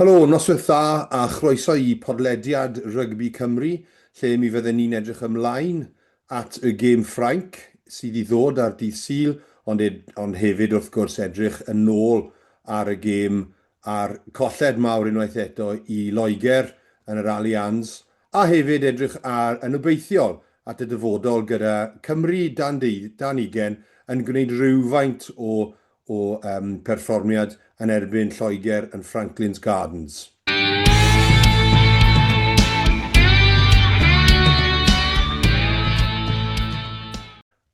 Helo, noswyth dda a chroeso i podlediad Rygbi Cymru lle mi fydden ni'n edrych ymlaen at y gêm Ffrainc sydd i ddod ar dydd Sul ond ed- ond hefyd wrth gwrs edrych yn ôl ar y gêm a'r colled mawr unwaith eto i Loegr yn yr Allianz a hefyd edrych ar yn obeithiol at y dyfodol gyda Cymru dan deu- dan ugen yn gwneud rywfaint o o berfformiad yn erbyn Lloegr yn Franklin's Gardens.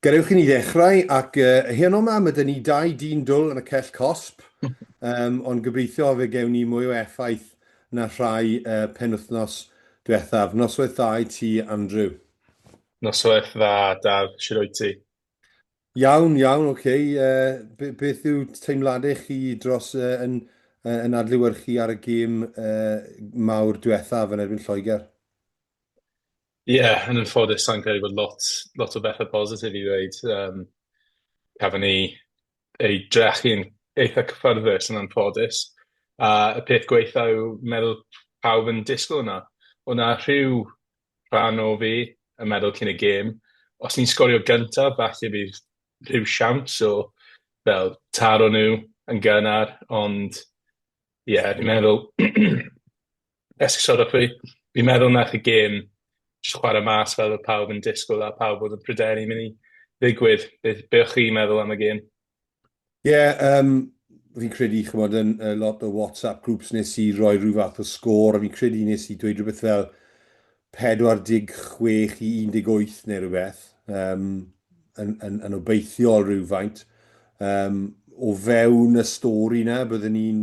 Gadewch i ni ddechrau ac heno yma mae dyn ni dau dyn dwl yn y cell cosb, ond gobeithio fe gewn ni mwy o effaith na rhai penwythnos diwethaf. Noswaith dda i ti, Andrew. Noswaith dda, Daf. Shwd wyt ti? Iawn, iawn, ok. Uh, beth yw teimladau chi dros uh, yn, uh, yn adlywyrchu ar y gêm uh, mawr diwethaf yn erbyn Lloegr? Ie, yeah, yn ymffoddus, sa'n credu bod lot, lot o bethau positif i ddweud. Um, cafon ni ei drechu'n eitha cyffyrddus yn ymffoddus. A y peth gweitha yw meddwl pawb yn disgwyl yna. O'na rhyw rhan o fi yn meddwl cyn y gêm, os ni'n sgorio gyntaf, falle bydd rhyw siawns o fel taro nhw yn gynnar, ond ie, yeah, fi'n meddwl, esgusodwch fi, fi'n meddwl nach y gêm jyst chwarae mas fel oedd pawb yn disgwyl a pawb oedd yn pryderu mynd i ddigwydd. Be, be o'ch chi'n meddwl am y gêm? Ie, yym, fi'n credu, ch'mod, yn yy lot o WhatsApp groups nes i roi rhyw fath o sgôr, a fi'n credu nes i dweud rhywbeth fel 46 i 18 neu rhywbeth, yym, yn yn yn obeithiol rywfaint. Yym, o fewn y stori 'na, bydden ni'n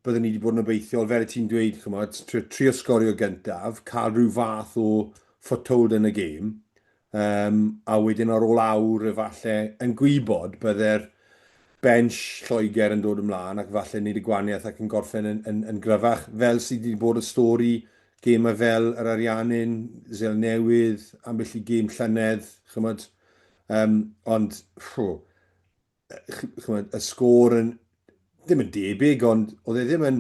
bydden ni wedi bod yn obeithiol, fel y ti'n dweud, ch'mod, trio sgorio gyntaf, cael rhyw fath o foothold yn y gêm, um, a wedyn ar ôl awr efallai yn gwybod bydde'r bench Lloegr yn dod ymlaen ac efallai wneud y gwaniaeth ac yn gorffen yn, yn, yn gryfach fel sydd wedi bod y stori gemau fel yr Ariannin, Zel Newydd, ambell i gêm llynedd, chymod, um, ond rhw, chymod, y sgôr yn, ddim yn debyg, ond oedd e ddim yn,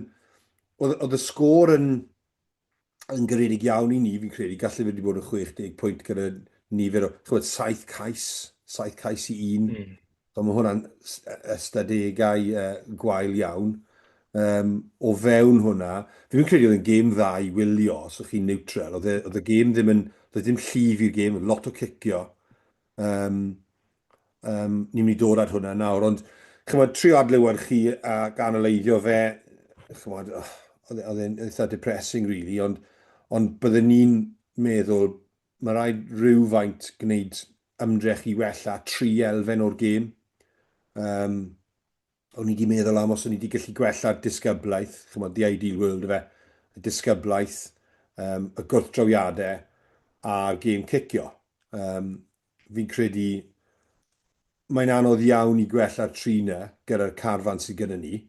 oedd, oedd y sgôr yn, yn garedig iawn i ni, fi'n credu, gallu wedi bod yn 60 pwynt gyda nifer o, chywed, 7 cais, 7 cais i un. Mm. So mae hwnna'n ystadegau uh, gwael iawn. Um, o fewn hwnna, fi fi'n credu oedd yn gêm dda i wylio, os ydych chi'n neutral, oedd, e, oedd y gêm ddim yn, oedd e ddim llif i'r gêm, lot o cicio, Yym, yym, ni'n mynd i dod at hwnna nawr, ond chymod, trio adlewyrchu a ganaleiddio fe, chymod, oh, oedd e, e'n eitha depressing, really, ond, ond byddwn ni'n meddwl, mae rhaid rhywfaint gwneud ymdrech i wella tri elfen o'r gêm. Um, O'n i 'di meddwl am os o'n i 'di gallu gwella'r disgyblaeth, ch'mod the ideal world yfe, y disgyblaeth, um, y gwrthdrawiadau a'r gêm cicio. Um, fi'n credu mae'n anodd iawn i gwella'r tri na gyda'r carfan sydd gyda ni,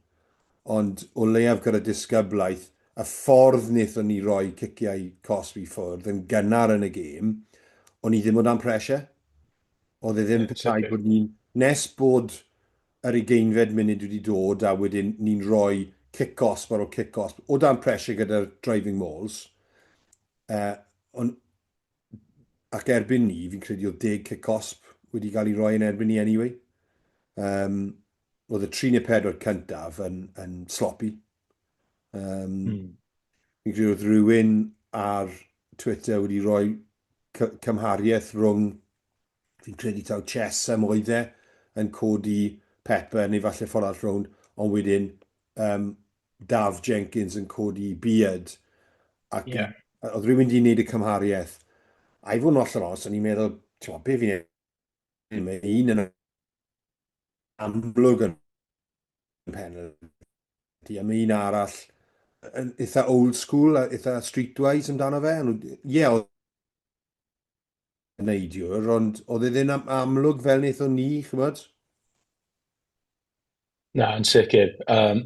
ond o leiaf gyda disgyblaeth, y ffordd wnaethon ni roi ciciau cosb i ffwrdd yn gynnar yn y gêm, o'n i ddim o dan pressure. Oedd e ddim yeah, petai bod ni'n, nes bod yr ugeinfed munud wedi dod a wedyn ni'n rhoi cic-gosb ar ôl cic-gosb o dan pressure gyda'r driving mauls yy on- ac erbyn ni fi'n credu oedd deg cic-gosb wedi cael ei roi yn erbyn ni anyway. Um, oedd y 3 neu 4 cyntaf yn, yn sloppy. Um, mm. Fi'n credu oedd rhywun ar Twitter wedi rhoi cymhariaeth rhwng Fi'n credu taw chess am oedd e, yn codi Pepper neu falle ffordd arall rownd, ond wedyn um, Daf Jenkins yn codi Beard. Ac yeah. oedd rhywun wedi gwneud y cymhariaeth. A i fod yn oll yn os, o'n i'n meddwl, ti'n meddwl, be fi'n ei... Mae un yn amlwg yn penalty, a mae un arall yn eitha old school, a eitha streetwise amdano fe. Ie, yeah, neidwr, ond oedd e ddim am amlwg fel wnaethon ni, chymod? Na, yn sicr. Um,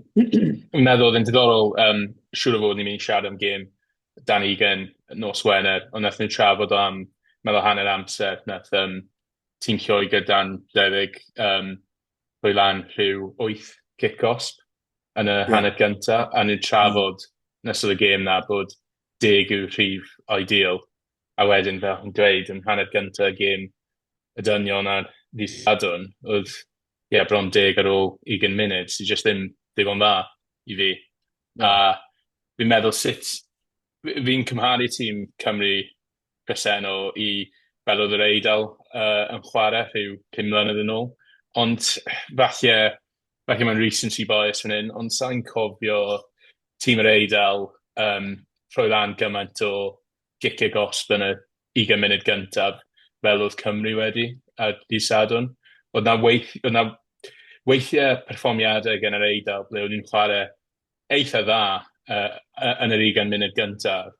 meddwl oedd yn diddorol, um, siŵr o fod ni'n mynd i siarad am gêm Dan Egan nos Wener, ond nath nhw'n trafod am meddwl hanner amser, nath um, tîm lloi gyda'n debyg um, rhoi lan rhyw 8 cic osb yn y yeah. hanner gyntaf, a nhw'n trafod mm. nes oedd y gêm na bod deg yw rhif ideal, a wedyn fel chi'n dweud yn hanner gynta y gêm y dynion ar ddydd Sadwrn oedd ie bron deg ar ôl ugain munud sy jyst ddim digon dda i fi a fi'n meddwl sut fi'n cymharu tîm Cymru presennol i fel oedd yr Eidal yy yn chware rhyw pum mlynedd yn ôl ond falle falle mae'n recency bias fan hyn ond sai'n cofio tîm yr Eidal yym rhoi lan gymaint o gic y gosb yn yr ugain munud gyntaf, fel oedd Cymru wedi ar ddydd Sadwrn. Oedd 'na weith- oedd 'na weithiau perfformiadau gan yr Eidal ble o'n nhw'n chwarae eitha' dda yy yy yn yr ugain munud gyntaf,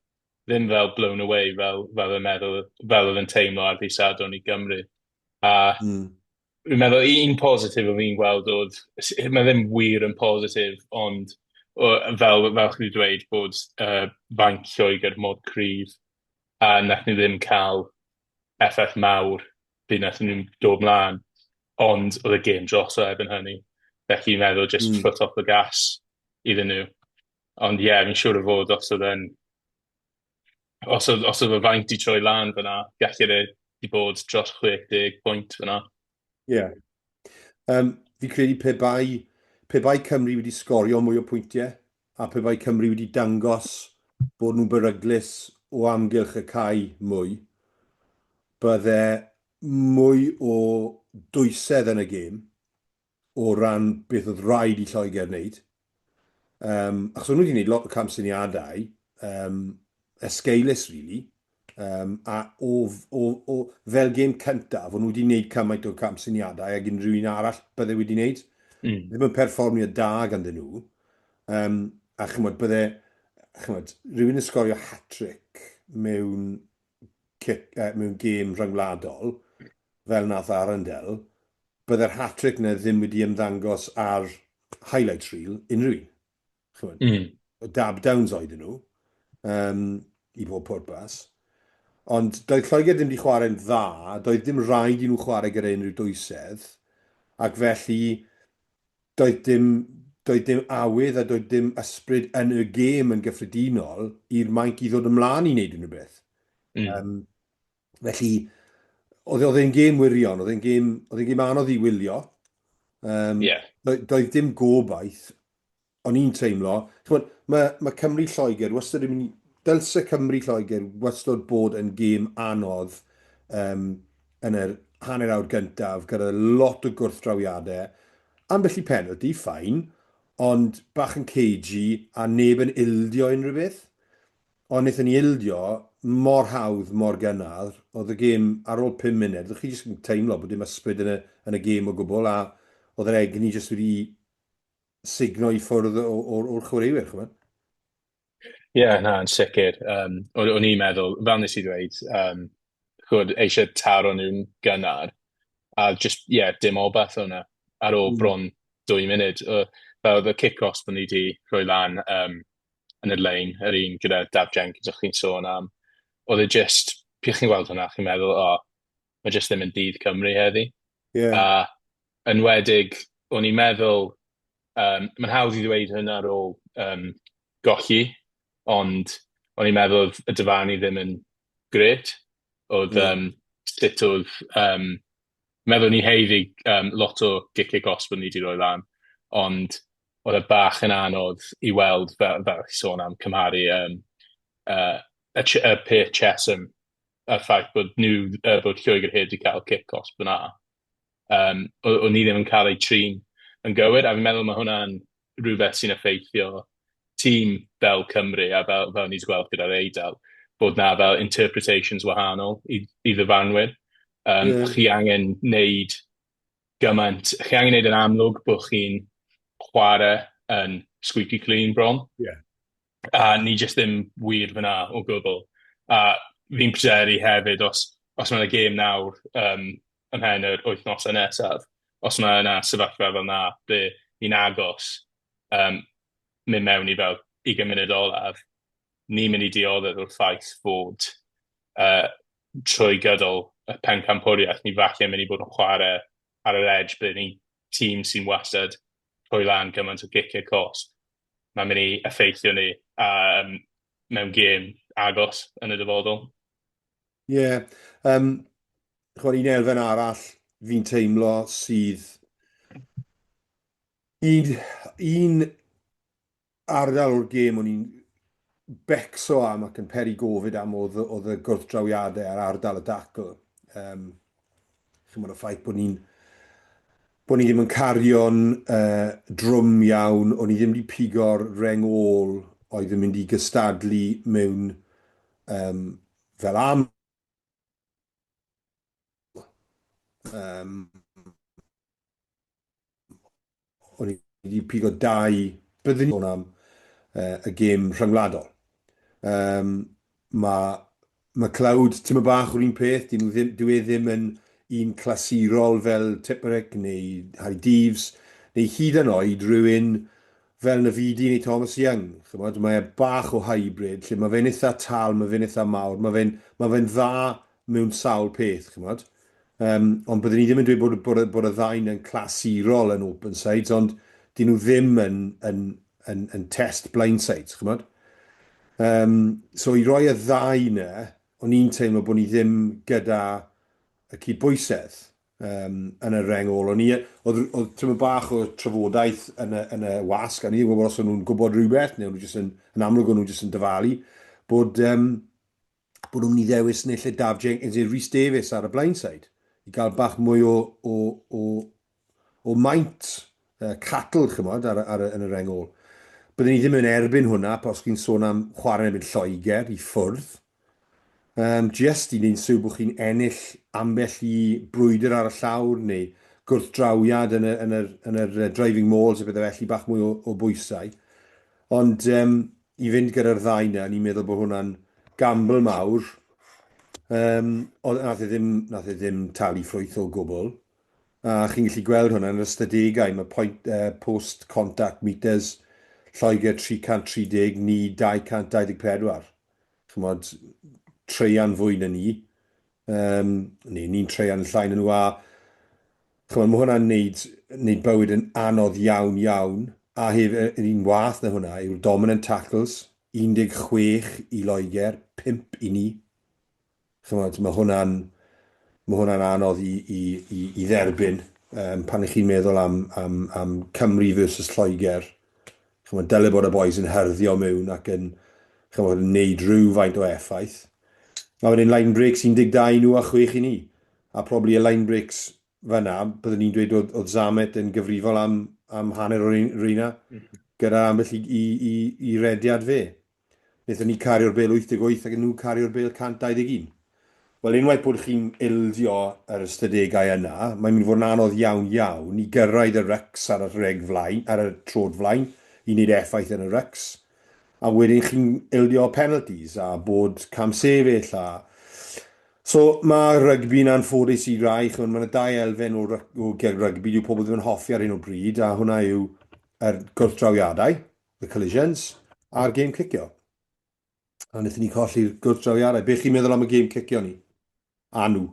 ddim fel blown away fel fel y meddwl- fel oedd yn teimlo ar ddydd Sadwrn i Gymru. A... Mm. Fi'n meddwl u- un positif o fi'n gweld oedd, s- mae ddim wir yn positif, ond o, fel fel chi wedi dweud bod yy fainc Lloegr mor cryf a wnaethon nhw ddim cael effaith mawr pryd wnaethon nhw dod mlaen, ond oedd y gêm droso erbyn hynny, felly fi'n meddwl jyst Mm. foot off the gas iddyn nhw. Ond ie, fi'n siŵr o fod os oedd e'n os oedd, os oedd y faint i troi lan fyna, gallu ei wedi bod dros 60 pwynt fyna. Ie. Yeah. Um, fi credu pe bai, pe bai Cymru wedi sgorio mwy o pwyntiau, a pe bai Cymru wedi dangos bod nhw'n beryglus o amgylch y cae mwy, bydde mwy o dwysedd yn y gêm, o ran beth oedd rhaid i Lloegr wneud, um, achos o'n nhw wedi gwneud lot o camsyniadau um, esgeulus, really, um, a o, o, o, fel gêm cyntaf, o'n nhw wedi gwneud cymaint o camsyniadau ag unrhyw un arall bydde wedi gwneud. Mm. Ddim yn perfformio da ganddyn nhw. Um, a chymod, bydde chymod, rhywun yn sgorio hat-trick mewn, uh, mewn gêm rhyngwladol, fel nath Arundel, bydde'r hat-trick 'na ddim wedi ymddangos ar highlights reel unrhyw un. Chimod? Mm. Dab downs oedden nhw, um, i bob pwrpas. Ond doedd Lloegr ddim wedi chwarae'n dda, doedd dim rhaid i nhw chwarae gyda unrhyw dwysedd, ac felly doedd dim, doedd dim awydd a doedd dim ysbryd yn y gêm yn gyffredinol i'r Mainc i ddod ymlaen i wneud unrhyw beth. Mm. Um, Felly, oedd oedd e'n gêm wirion, oedd e'n gêm, oedd e'n gêm anodd i wylio. Um, yeah. doedd, doedd dim gobaith, o'n i'n teimlo. Chymod, mae, mae Cymru Lloegr wastad yn mynd, dylse Cymru Lloegr wastad bod yn gêm anodd um, yn yr hanner awr gyntaf, gyda lot o gwrthdrawiadau. Ambell i penalty, ffain, ond bach yn cagey a neb yn ildio unrhyw beth. Ond wnaethon ni ildio mor hawdd, mor gynnar. Oedd y gêm ar ôl pum munud, o'ch chi jyst yn teimlo bod dim ysbryd yn y yn y gêm o gwbl, a oedd yr egni jyst wedi sugno i ffwrdd o- o'r o'r chwaraewyr, ch'mod? Ie, na, yn sicr. Um, o'n o'n i'n meddwl, fel nes i ddweud, um, chwrdd eisiau taro nhw'n gynnar, a just, ie, yeah, dim obaith o'na ar ôl mm. bron dwy munud. Uh, fel oedd y kick-offs bod ni wedi rhoi lan, um, yn y lein, yr un gyda Daf Jenkins o'ch chi'n sôn am, oedd e jyst, pych chi'n gweld hwnna, chi'n meddwl, o, oh, mae jyst ddim yn dydd Cymru heddi. Yeah. A yn wedig, o'n i'n meddwl, um, mae'n hawdd i ddweud hynna ar ôl um, golli, ond o'n i'n meddwl oedd y dyfarnu ddim yn gret, oedd yeah. um, sut oedd, um, meddwl ni heiddi um, lot o giciau gosb o'n ni wedi rhoi lan, ond oedd e bach yn anodd i weld, fel, fel chi sôn am cymharu um, uh, y, ch y peth Chesham a'r ffaith bod nhw, uh, bod Lloegr Hyd wedi cael cic os byna. Um, o'n ni ddim yn cael ei trin yn gywir, a fi'n meddwl mae hwnna'n rhywbeth sy'n effeithio tîm fel Cymru a fel, fel ni wedi gweld gyda'r Eidal, bod na fel interpretations wahanol i, i ddyfarnwyr. Um, yeah. Chi angen wneud gymaint. Chi angen neud yn amlwg bod chi'n chware yn squeaky clean bron. Ie. A ni jyst ddim wir fyna o gwbl. A fi'n pryderu hefyd os os ma' 'na gêm nawr yym ymhen yr wythnose nesaf, os ma' 'na sefyllfa fel 'na ble ni'n agos yym myn' mewn i fel ugen munud olaf, ni'n myn' i dioddef o'r ffaith fod uh, trwy gydol y pencampwriaeth, ni falle mynd i bod yn chwarae ar yr edge bydd ni tîm sy'n wastad trwy lan gymaint o giciau cosp. Mae'n mynd i effeithio ni um, mewn gêm agos yn y dyfodol. Ie, yeah, um, chwarae un elfen arall fi'n teimlo sydd un, un ardal o'r gêm o'n i'n becso am ac yn peri gofid am oedd, oedd y gwrthdrawiadau ar ardal y dacl. Um, chymod y ffaith bod ni'n bod ni ddim yn cario'n uh, drwm iawn, o'n i ddim wedi pigo'r reng ôl oedd yn mynd i gystadlu mewn um, fel am um, o'n i wedi pigo dau, byddwn ni'n sôn am uh, y gêm rhyngwladol. Um, mae ma Cloud tîm y bach o'r un peth, dyn nhw ddim, dwi e ddim yn un clasurol fel Tipperek neu Harry Deves, neu hyd yn oed rhywun fel na fi di neu Thomas Young. Chymod, mae e bach o hybrid, lle mae fe'n eitha tal, mae fe'n eitha mawr, mae fe'n ma fe dda mewn sawl peth, ch'mod. Yym, ond byddwn i ddim yn dweud bod bod y bod y ddau'n yn clasurol yn open sides, ond 'dyn nhw ddim yn yn yn yn test blind sides, ch'mod. Yym, so i roi y ddau 'na, o'n i'n teimlo bod ni ddim gyda y cydbwysedd um, yn y reng ôl. O'n i, oedd, oedd tymor bach o trafodaeth yn y, yn y wasg, a ni ddim yn gwybod os o'n nhw'n gwybod rhywbeth, neu o'n nhw jyst yn, yn amlwg o'n nhw jyst yn dyfalu, bod um, bod nhw'n mynd i ddewis neu lle Daf Jenkins neu Rhys Davies ar y Blindside i gael bach mwy o, o, o, o maint uh, catl, chymod, ar, ar, yn yr engol. Byddwn ni ddim yn erbyn hwnna, pa os chi'n sôn am chwarae erbyn Lloegr i ffwrdd. Um, just i wneud syw bod chi'n ennill ambell i brwydr ar y llawr neu gwrthdrawiad yn y, yn yr, yn yr driving mauls a bethau felly bach mwy o, o bwysau. Ond yym i fynd gyda'r ddau 'na o'n i'n meddwl bo' hwnna'n gamble mawr. Yym o'dd nath e ddim nath e ddim talu ffrwyth o gwbwl. A chi'n gallu gweld hwnna yn yr ystadegau ma' point yy post contact meters Lloegr 330 ni 224. Ch'mod traean fwy na ni. Yym neu ni'n traean llai na nhw a Ch'mod, ma' hwnna'n neud neud bywyd yn anodd iawn, iawn. A hef- yy yr un wath na hwnna yw'r dominant tackles, 16 i Loegr, 5 i ni. Ch'mod, ma' hwnna'n ma' hwnna'n anodd i i i i dderbyn yym pan 'ych chi'n meddwl am am am Cymru versus Lloegr. Ch'mod, dyle bod y bois yn hyrddio miwn ac yn ch'mod yn neud rywfaint o effaith. A wedyn line breaks 12 i nhw a chwech i ni. a probably y line breaks fan'na, byddwn ni'n dweud oedd, oedd Zamet yn gyfrifol am, am hanner o'r reina, gyda ambell i, i, i, i rediad fe. Nethon ni cario'r bel 88 ac nhw cario'r bel 121. Wel, unwaith bod chi'n ildio yr ystadegau yna, mae'n mynd i fod yn anodd iawn iawn i gyrraedd y rycs ar y rheg flaen, ar y trod flaen, i wneud effaith yn y rycs. A wedyn chi'n ildio penalties a bod camsefyll a... So mae rygbi'n anffodus i rai, chymod, mae yna dau elfen o, o ger rygbi, dyw pobl ddim yn hoffi ar hyn o bryd, a hwnna yw yr gwrthdrawiadau, the collisions, a'r gêm cicio. A wnaethon ni colli'r gwrthdrawiadau. Be chi'n meddwl am y gêm cicio ni? A nhw?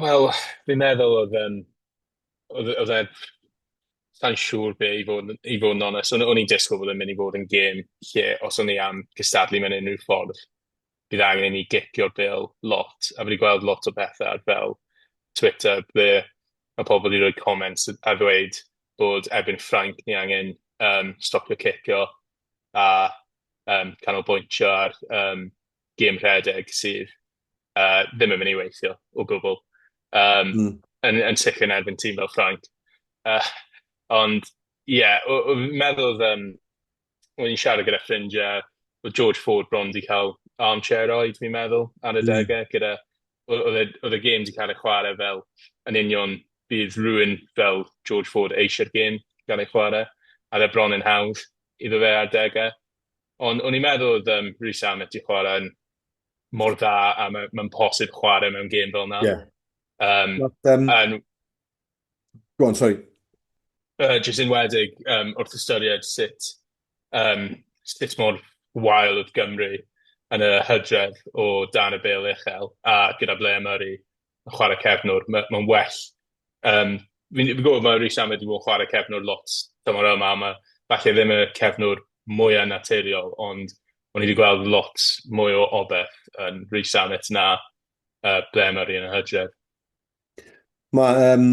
Wel, fi'n meddwl oedd um, oedd oedd e... Sai'n siŵr be i fod yn i fod yn onest. O'n o'n i'n disgwyl bod e'n mynd i fod yn gêm lle os o'n ni am cystadlu mewn unrhyw ffordd, bydd angen i ni gipio'r bêl lot. A fi 'di gweld lot o bethe ar fel Twitter ble ma' pobl 'di rhoi comments a ddweud bod erbyn Ffrainc ni angen yym stopio cipio a yym canolbwyntio ar yym gêm rhedeg sydd... uh, ddim yn mynd i weithio o gwbl. Um, mm. yn, yn sicr yn erbyn tîm fel Ffranc. Uh, ond, ie, yeah, fi'n meddwl oedd, um, o'n i'n siarad gyda ffrindiau, oedd George Ford bron di cael armchair oed, fi'n meddwl, ar y mm. degau, mm. gyda, oedd y gêm di cael ei chwarae fel yn union bydd rhywun fel George Ford eisiau'r gêm gael ei chwarae, a dde bron yn hawdd iddo fe ar degau. Ond o'n i'n meddwl oedd um, Rhys Amet i chwarae yn mor dda a mae'n ma posib chwarae mewn gêm fel yna. Yeah. Um, Not, um, and, go on, sorry. Uh, just in wedig, um, wrth ystyried sut, um, sut mor wael oedd Gymru yn y hydref o dan y bel uchel a gyda Blair Murray yn chwarae cefnwr, mae'n ma well... Um, fi'n fi gwybod mae Rhys Sam wedi bod yn chwarae cefnwr lot tymor yma, mae falle ddim y cefnwr mwyaf naturiol, ond o'n i wedi gweld lot mwy o obeth yn Rhys Samit na uh, ble mae rhywun yn hydref. Mae um,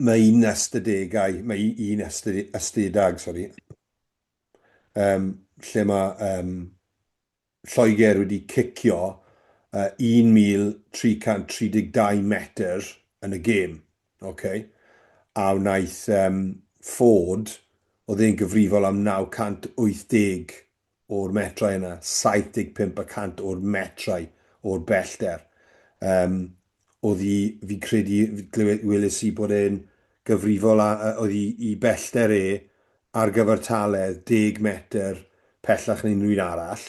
Mae un ystadegau, mae un ystedag, sori, um, lle mae um, Lloegr wedi cicio uh, 1,332 metr yn y gêm. Okay? A wnaeth um, Ford, oedd e'n gyfrifol am 980 o'r metrau yna, 75 y cant o'r metrau o'r bellder. Um, oedd hi, fi'n credu, weles i bod e'n gyfrifol a, oedd hi i bellder e ar gyfer taledd 10 metr pellach neu unrhyw un arall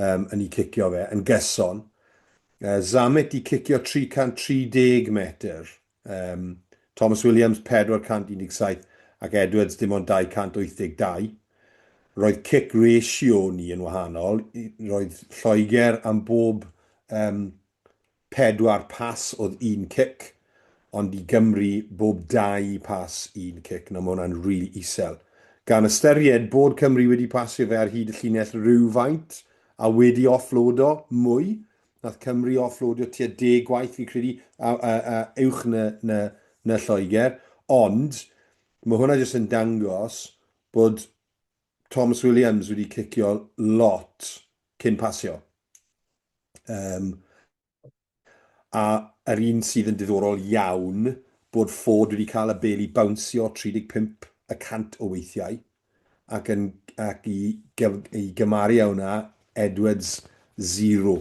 um, yn ei cicio fe, yn gyson. Uh, Zammit di cicio 330 metr Yym, Thomas Williams, 417, ac Edwards, dim ond 282. Roedd cic ratio ni yn wahanol, roedd Lloegr am bob um, pedwar pas oedd un cic, ond i Gymru bob dau pas un cic. Nawr mae hwnna'n rili really isel. Gan ystyried bod Cymru wedi pasio fe ar hyd y llinell rhywfaint a wedi offloado mwy, Nath Cymru offloadio tua deg gwaith fi'n credu a, a, a uwch na, na, na Lloegr, ond mae hwnna jyst yn dangos bod Thomas Williams wedi cicio lot cyn pasio. Um, a yr un sydd yn diddorol iawn bod Ford wedi cael y bel i bawnsio 35 y cant o weithiau. ac yn ac i i gymaru â hwnna Edwards zero.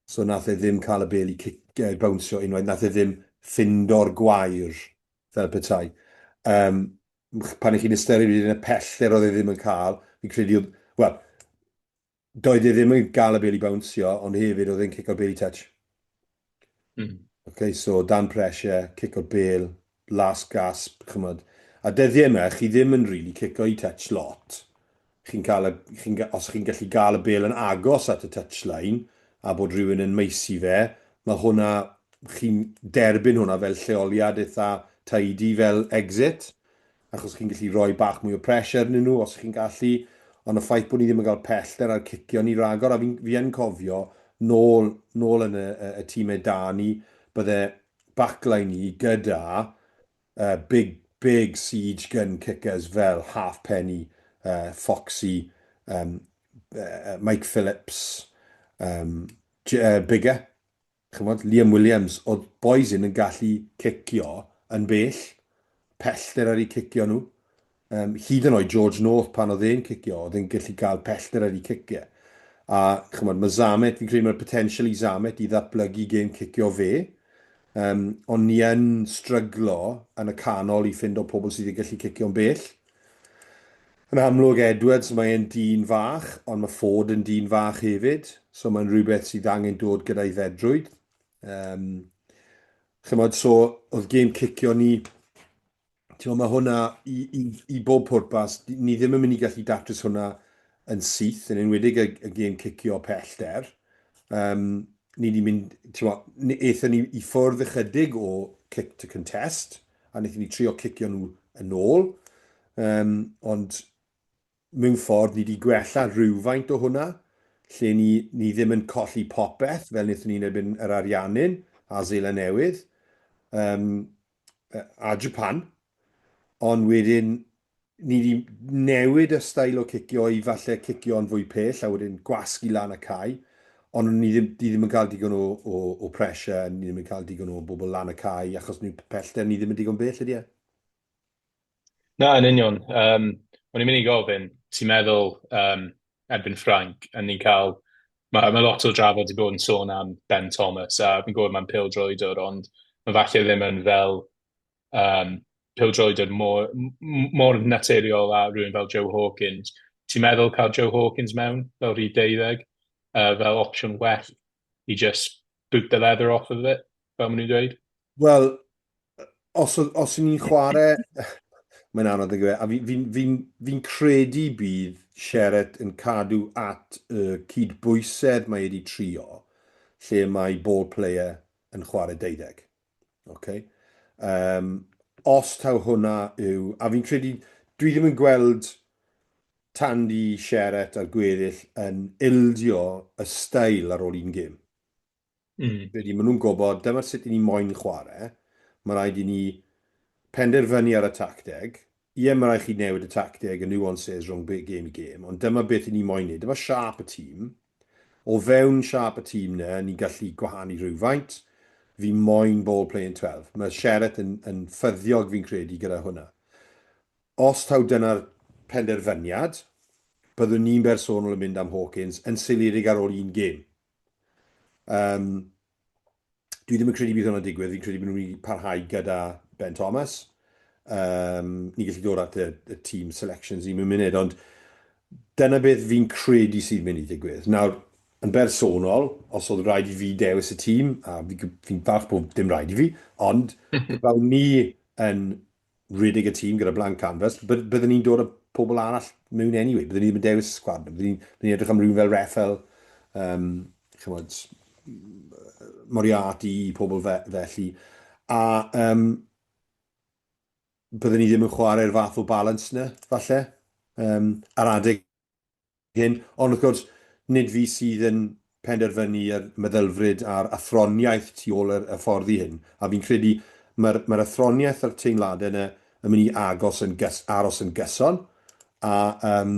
So nath e ddim cael y bel i cic, uh, bownsio unwaith, nath e ddim ffindo'r gwair fel petai. Um, pan ych chi'n ystyried yn y pellter oedd e ddim yn cael, fi'n credu oedd, wel, Doedd e ddim yn gael y bêl i bawnsio, ond hefyd oedd e'n cico'r bêl i touch. Mm. Ok, so dan pressure, cico'r bêl, last gasp, chymod. A dyddiau yma, chi ddim yn really cico i touch lot. Chi'n cael y, chi'n, os chi'n gallu gael y bêl yn agos at y touchline, a bod rhywun yn maesu fe, mae hwnna, chi'n derbyn hwnna fel lleoliad eitha tidy, fel exit. achos chi'n gallu rhoi bach mwy o pressure arnyn nhw os chi'n gallu, ond y ffaith bod ni ddim yn cael pellter ar cicio ni ragor, a fi, fi yn cofio nôl, nôl yn y, y, y tîmau da ni, bydde backline ni gyda uh, big, big siege gun kickers fel Half Penny, uh, Foxy, um, uh, Mike Phillips, um, uh, Bigger, Chimod, Liam Williams, oedd bois hyn yn gallu cicio yn bell, pellter ar eu cicio nhw. Um, hyd yn oed George North, pan oedd e'n cicio, oedd e'n gallu cael pellter ar eu cicio. A chymod, mae Zamet, fi'n credu mae'r potensial i Zamet i ddatblygu gêm cicio fe, um, ond ni yn stryglo yn y canol i ffind o pobl sydd wedi gallu cicio'n bell. Yn amlwg Edwards mae e'n dyn fach, ond mae Ford yn dyn fach hefyd, so mae'n rhywbeth sydd angen dod gyda'i fedrwydd. Um, chymod, so oedd gêm cicio ni, ti'n mae hwnna i, i, i bob pwrpas, ni ddim yn mynd i gallu datrys hwnna yn syth, yn enwedig y, y gêm cicio pellter. Um, ni wedi mynd, timod, aethon ni i ffwrdd ychydig o kick to contest, a wnaethon ni trio cicio nhw yn ôl, um, ond mewn ffordd ni wedi gwella rhywfaint o hwnna, lle ni, ni ddim yn colli popeth fel wnaethon ni'n ebyn yr Ariannin a Zeila Newydd. Um, a Japan, ond wedyn ni wedi newid y stael o cicio i falle cicio yn fwy pell a wedyn gwasgu lan y cae, ond ni ddim, ni ddim yn cael digon o, o, o pressure, ni ddim yn cael digon o bobl lan y cae achos ni pellter ni ddim yn digon bell ydy e. Na, yn union. Um, o'n i'n mynd i gofyn, ti'n meddwl um, erbyn Ffranc, a ni'n cael... Mae ma lot o drafod i bod yn sôn am Ben Thomas, a fi'n gwybod mae'n pil droedwr, ond mae falle ddim yn fel um, pil droedwr mor, mor naturiol a rhywun fel Joe Hawkins. Ti'n meddwl cael Joe Hawkins mewn fel rhyw deuddeg, uh, fel opsiwn well he just boot the leather off of it, fel maen nhw'n dweud? Wel, os, os ni'n chwarae... Mae'n anodd yn gyfer, a fi'n fi, fi, fi credu bydd Sheret yn cadw at y cydbwysedd mae wedi trio, lle mae ball player yn chwarae deuddeg. Okay. Um, os taw hwnna yw... A fi'n credu, dwi ddim yn gweld Tandy, Sheret a'r gweddill yn ildio y stael ar ôl un gym. Mm. Credu, maen nhw'n gwybod, dyma sut i ni moyn chwarae, mae rhaid i ni penderfynu ar y tacteg, Ie, mae rhaid chi newid y tacteg, y nuances rhwng gêm i gêm, ond dyma beth i ni moyn wneud, dyma siâp y tîm. O fewn siâp y tîm yna, ni'n gallu gwahanu rhywfaint. Fi moyn ball play in twelve. Mae Sheret yn, yn ffyddiog fi'n credu gyda hwnna. Os taw dyna'r penderfyniad, byddwn ni'n bersonol yn mynd am Hawkins yn seiliedig ar ôl un gêm. Um, dwi ddim yn credu bydd hwnna'n digwydd, fi'n credu bod nhw'n mynd i parhau gyda Ben Thomas. Um, ni'n gallu dod at y, y team selections ni mewn munud, ond dyna beth fi'n credu sy'n mynd i digwydd. Nawr, yn bersonol, os oedd rhaid i fi dewis y tîm, a fi'n fi falch bod dim rhaid i fi, ond fel ni yn rhedeg y tîm gyda blank canvas, byd, byddwn ni'n dod o pobl arall mewn anyway, byddwn ni ddim yn dewis sgwad, byddwn ni'n ni edrych am rhywun fel Rafael, um, chymod, Moriarty, pobl fe, felly, a um, byddwn ni ddim yn chwarae'r fath o balans na, falle, um, ar adeg hyn, ond wrth gwrs, nid fi sydd yn penderfynu y meddylfryd a'r athroniaeth tu ôl yr hyfforddi hyn, a fi'n credu mae'r mae'r athroniaeth a'r teimladau yna yn mynd i agos yn gys- aros yn gyson, a um,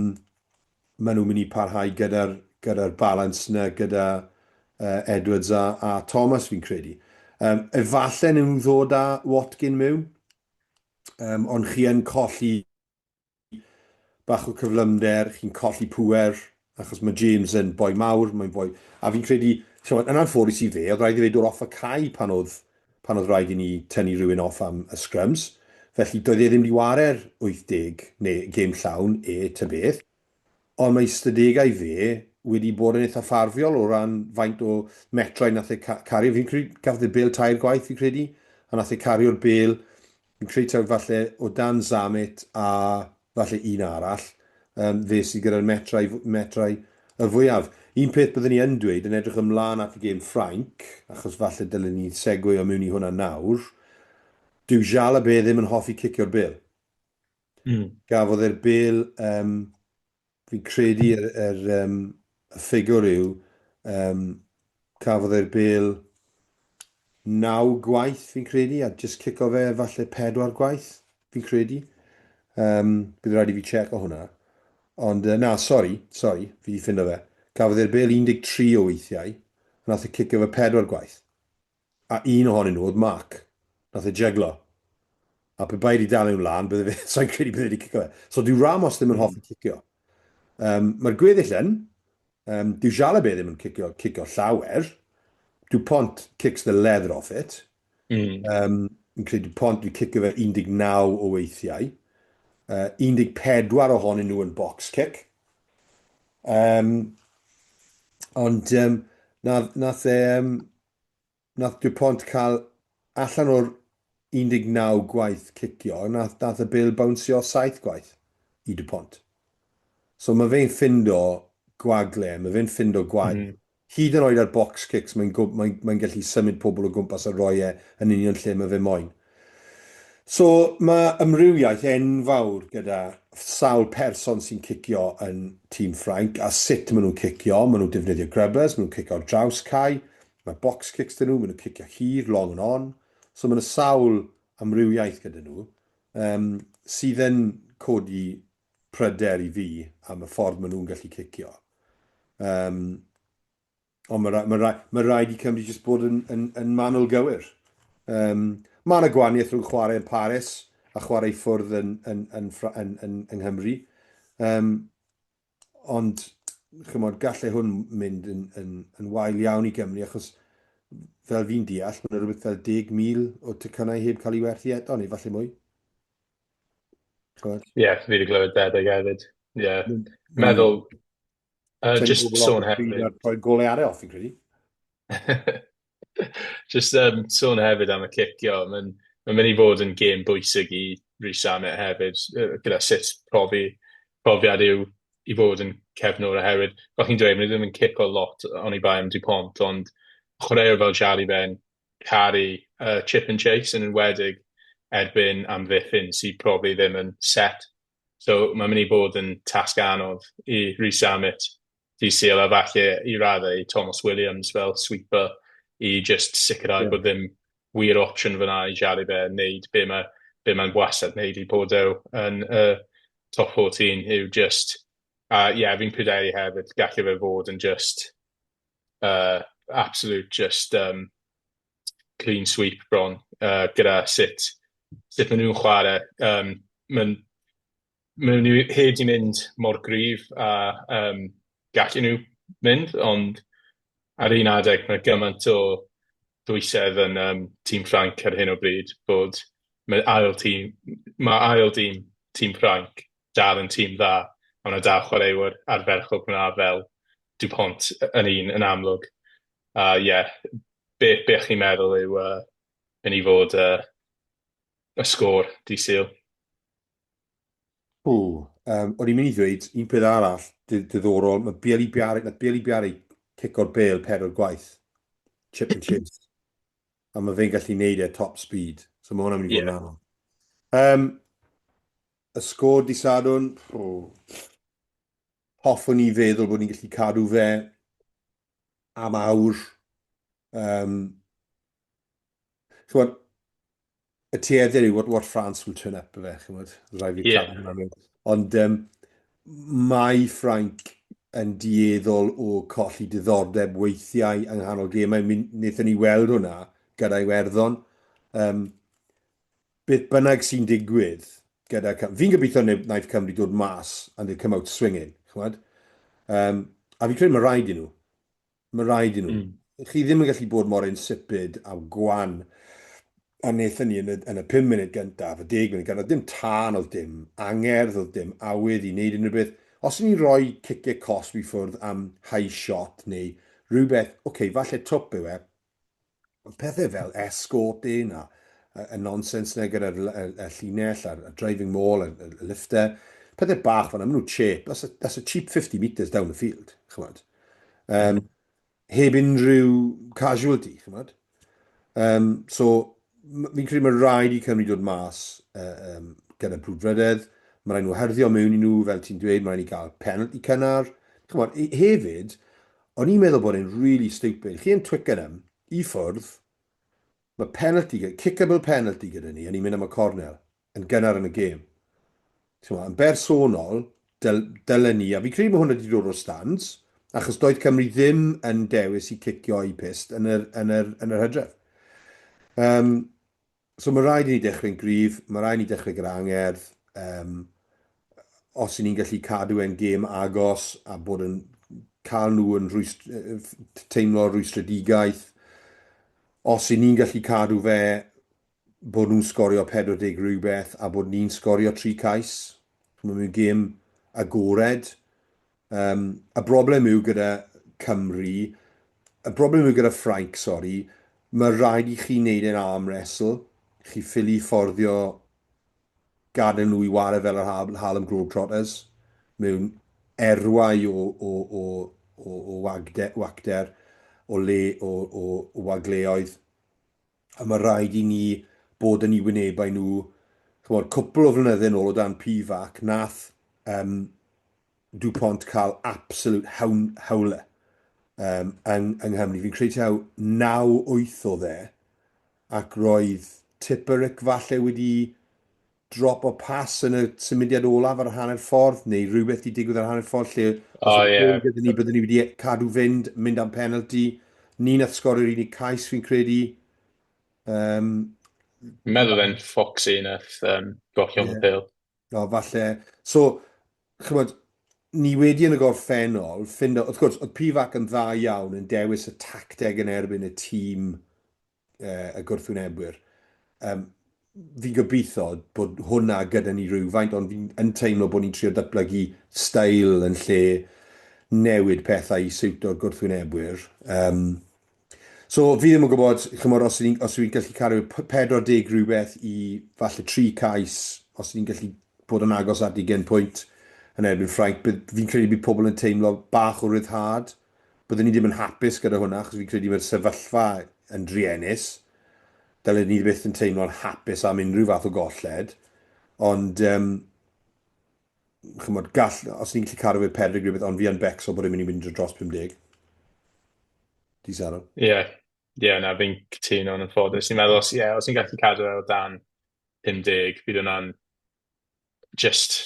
maen nhw'n mynd i parhau gyda'r gyda balans yna gyda uh, Edwards a, a Thomas fi'n credu. Um, efallai nhw'n ddod â Watkin mewn, um, ond chi yn colli bach o cyflymder, chi'n colli pŵer, achos mae James yn boi mawr, mae'n boi... A fi'n credu, chymod, yn anffodus i fe, oedd rhaid i fe dod off y cae pan oedd, pan oedd rhaid i ni tynnu rhywun off am y scrums, felly doedd e ddim wedi ware'r 80, neu gêm llawn, e, ta beth. Ond mae ystadegau fe wedi bod yn eitha ffafriol o ran faint o metrau nath e ca- cario. Fi'n credu gafodd e bêl tair gwaith, fi'n credu, a nath e cario'r bêl Fi'n credu taw falle o dan Zammit a falle un arall, um, fe sydd gyda'r metrau, metrau y fwyaf. Un peth byddwn ni yn dweud, yn edrych ymlaen at y gêm Ffrainc, achos falle dylwn ni segwio mewn i hwnna nawr, dyw Jalabert ddim yn hoffi cicio'r bel. Mm. Gafodd e'r bel um, Fi'n credu yr yr yym y ffigwr yw yym cafodd e'r bêl naw gwaith fi'n credu a jyst cico fe falle pedwar gwaith fi'n credu. Yym bydd rhaid i fi checo hwnna. Ond yy na sori, sori, fi 'di ffindo fe. Cafodd e'r bêl 13 o weithiau, nath e cico fe pedwar gwaith. A un ohonyn nhw oedd Mark. Nath e jeglo. A pe bai 'di dal e'n wlân, bydde fe, sai'n credu bydde 'di cico fe. So dyw Ramos ddim yn hoffi cicio. Um, Mae'r gweddill yn, um, dyw Jalabé ddim yn cicio, cicio llawer. Dupont kicks the leather off it. Mm. Um, yn credu Dupont wedi cicio fe 19 o weithiau. Uh, 14 ohonyn nhw yn box kick. Um, ond um, nath, nath, um, nath DuPont cael allan o'r 19 gwaith cicio, nath, nath y bil bawnsio 7 gwaith i DuPont. So mae fe'n ffindo gwagle, mae fe'n ffindo gwaith. Mm. Hyd yn oed ar box kicks mae'n mae'n mae'n gallu symud pobl o gwmpas a roi e yn union lle mae fe moyn. So mae ymrywiaeth enfawr gyda sawl person sy'n cicio yn tîm Ffrainc a sut maen nhw'n cicio, maen nhw'n defnyddio grubbers, maen nhw'n cicio ar draws cae, mae box kicks dyn nhw, maen nhw'n cicio hir, long and on. So mae yna sawl amrywiaeth gyda nhw um, sydd yn codi pryder i fi am y ffordd maen nhw'n gallu cicio. Um, ond mae, rhaid, mae, mae rhaid i Cymru jyst bod yn, yn, yn manwl gywir. Um, mae yna gwaniaeth rhwng chwarae yn Paris a chwarae ffwrdd yn, yn, yn, yn, yn, yng Nghymru. Um, ond, chymod, gallai hwn mynd yn, yn, yn wael iawn i Gymru, achos fel fi'n deall, mae'n rhywbeth fel 10,000 o tycynau heb cael ei werthu eto, neu falle mwy. Ie, yeah, fi wedi glywed debyg hefyd. Ie. Yeah. Mm. Meddwl, uh, just sôn hefyd. Rhoi golau ar e off, fi'n credu. just um, sôn hefyd am y cicio. Mae'n ma mynd i fod yn gêm bwysig i Rhys Amet hefyd, gyda sut profi, profiad yw i fod yn cefnwr a hefyd. Fel chi'n dweud, mae'n ddim yn cicio lot o'n i bai am Dupont, ond chwaraewr fel Charlie Ben, caru yy chip and chase yn enwedig erbyn amddiffyn sy probably ddim yn set so mae'n mynd i bod yn tasg anodd i Reece Zammit dydd Sul a falle i raddau i Tomos Williams fel sweeper i jyst sicrhau yeah. bod ddim wir opsiwn fyna i Jari fe wneud be mae be mae'n wastad wneud i bod ew yn y uh, top 14 yw just a uh, ie yeah, fi'n pryderu hefyd gallu fe fod yn just uh, absolute just um, clean sweep bron uh, gyda sut, sut maen nhw'n chwarae. Um, maen, maen nhw hyd i mynd mor gryf a um, gallu nhw mynd, ond ar un adeg mae gymaint o dwysedd yn um, tîm Ffranc ar hyn o bryd bod mae ail tîm, mae ail tîm tîm Ffranc dal yn tîm dda, a mae 'na dau chwaraewr ardderchog fan'na fel Dupont yn un yn amlwg. A ie, yeah, be, be chi'n meddwl yw uh, yn ei fod uh, y sgôr di syl? O, um, o'n i'n mynd i ddweud un peth arall diddorol, mae Bieli Biari, na Bieli Biari cic o'r bel pedwar gwaith, chip and chase. A mae fe'n gallu neud e top speed. So mae hwnna'n mynd i fod yn anodd. Um, Y sgôr dydd Sadwrn, hoffwn i feddwl bod ni'n gallu cadw fe am awr. Um, chymod, y tuedder yw what, what France will turn up, fe, chymod, rhaid fi yeah. cadw Ond um, mae Ffrainc yn dieddol o colli diddordeb weithiau yng nghanol gemau. Wnaethon ni weld hwnna gyda'i werddon. Um, beth bynnag sy'n digwydd gyda Cymru, fi'n gobeithio wnaeth Cymru dod mas and they come out swinging, chymod? Um, a fi'n credu mae rhaid i nhw. Mae rhaid i nhw. Mm. Chi ddim yn gallu bod mor insipid a gwan a wnaethon ni yn y, yn y 5 munud gyntaf, y 10 munud gyntaf, oedd dim tân, oedd dim angerdd, oedd dim awydd i wneud unrhyw beth. Os ni'n rhoi ciciau cosb i ffwrdd am high shot neu rhywbeth, oce, okay, falle twp yw e, pethau fel escorting a, a, a nonsens na gyda'r llinell a'r driving mall a'r, a'r lifter, pethau bach fan nhw'n cheap, that's a, that's a cheap 50 metres down the field, chymod. Um, heb unrhyw casualty, chymod. Um, so, fi'n credu mae rhaid i Cymru dod mas uh, um, gyda brwdfrydedd, mae rhaid nhw herddio mewn i nhw, fel ti'n dweud, mae rhaid i gael penalty cynnar. Chymod, hefyd, O'n i'n meddwl bod e'n really stupid. Chi yn Twickenham, i ffwrdd, mae penalty, kickable penalty gyda ni, a ni'n mynd am y cornel, yn gynnar yn y gêm. Ch'mo', yn bersonol, dyl, dylen ni, a fi'n credu mae hwn wedi dod o'r stands, achos doedd Cymru ddim yn dewis i cicio i pist yn yr, yn yr, yn yr hydref. Um, So mae rhaid i ni dechrau'n gryf, mae rhaid i ni dechrau gyda angerdd. Um, os i ni'n gallu cadw e'n gêm agos a bod yn cael nhw yn rhwystr, teimlo rwystredigaeth, os i ni'n gallu cadw fe bod nhw'n sgorio 40 rhywbeth a bod ni'n sgorio 3 cais, mae'n mynd gêm agored, Um, y broblem yw gyda Cymru, y broblem yw gyda Ffrainc, sori, mae rhaid i chi wneud e'n arm wrestle, chi ffili fforddio gadw nhw i wario fel yr Harlem Globetrotters mewn erwau o, o, o, o, o wagde, wagder, o le, o, o, o wagleoedd. a mae rhaid i ni bod yn eu wynebau nhw, ch'mod, cwpl o flynydde nôl o dan PVAC, nath um, DuPont cael absolute hawn, hawle um, yng, yng Nghymru. Fi'n credu taw 9-8 o dde, ac roedd Tipperick falle wedi drop o pas yn y symudiad olaf ar y hanner ffordd, neu rhywbeth di digwydd ar y hanner ffordd lle os oh, yeah. gyda ni, byddwn ni wedi cadw fynd, mynd am penalty. Ni'n at sgorio'r unig cais fi'n credu. Um, Meddwl fe'n Foxy yn eich um, gollio yeah. pil. No, falle. So, chymod, ni wedi yn y gorffennol, ffind, wrth gwrs, oedd Pivac yn dda iawn yn dewis y tacteg yn erbyn y tîm y gwrthwynebwyr. Um, fi'n gobeithio bod hwnna gyda ni rhywfaint, ond fi'n teimlo bod ni'n trio datblygu stael yn lle newid pethau i siwto'r gwrthwynebwyr. Um, so fi ddim yn gwybod, chymod, os ydyn ni'n gallu cario 40 rhywbeth i falle tri cais, os ydyn ni'n gallu bod yn agos at i gen pwynt yn erbyn Ffrainc, fi'n credu bod pobl yn teimlo bach o ryddhad. Byddwn i ddim yn hapus gyda hwnna achos fi'n credu mae'r sefyllfa yn druenus. Dylen ni byth yn teimlo'n hapus am unrhyw fath o golled. Ond, um, chymod, gall, os ni'n gallu cadw fe perig rhywbeth, ond fi yn becso bod yn mynd i fynd dros 50. Di Saro? Ie, yeah. ie, yeah, na, fi'n cytuno yn ffodus. Ni'n meddwl, os, yeah, os ni'n gallu cadw e o dan 50, bydd hwnna'n jyst,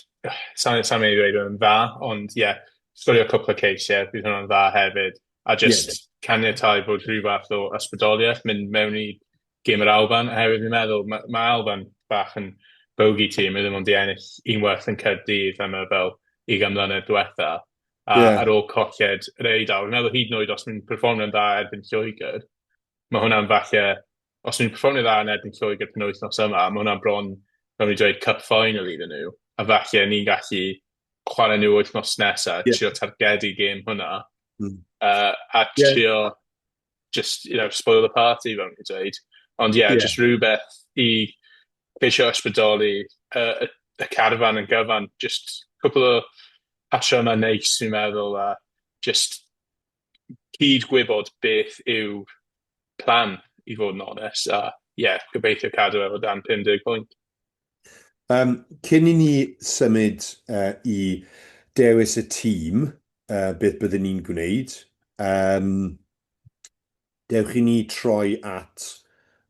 sai'n mynd i ddweud yn dda, ond ie, yeah, sgorio cwpl o ceis, ie, yeah, bydd hwnna'n dda hefyd. A jyst yeah. caniatau bod rhyw fath o ysbrydoliaeth mynd mewn i gym yr Alban, oherwydd fi'n meddwl, mae ma Alban bach yn bogi tîm, mae ddim ond i ennill un werth yn Cyrdydd am y fel i gymlynedd diwetha. A yeah. ar ôl colled yr Eidal, fi'n meddwl hyd yn oed os mae'n performio'n dda erbyn Lloegr, mae hwnna'n falle os nhw'n perfformio dda yn erbyn Lloegr penwythnos yma, mae hwnna'n bron, fel ni'n dweud, cup final iddyn nhw, a falle ni'n gallu chwarae nhw wythnos nesaf, yeah. trio targedu gêm hwnna, mm. uh, a trio, yeah. just, you know, spoil the party, fel ni'n dweud. Ond ie, yeah, yeah. just rhywbeth i ceisio ysbrydoli uh, y, y carfan yn gyfan, just cwpl o patrymau neis, ni'n meddwl, a just cyd-gwybod beth yw plan i fod yn onest a ie yeah, gobeithio cadw efo dan 50 pwynt. Um, cyn i ni symud uh, i dewis y tîm, uh, beth byddwn ni'n gwneud, um, Dewch i ni troi at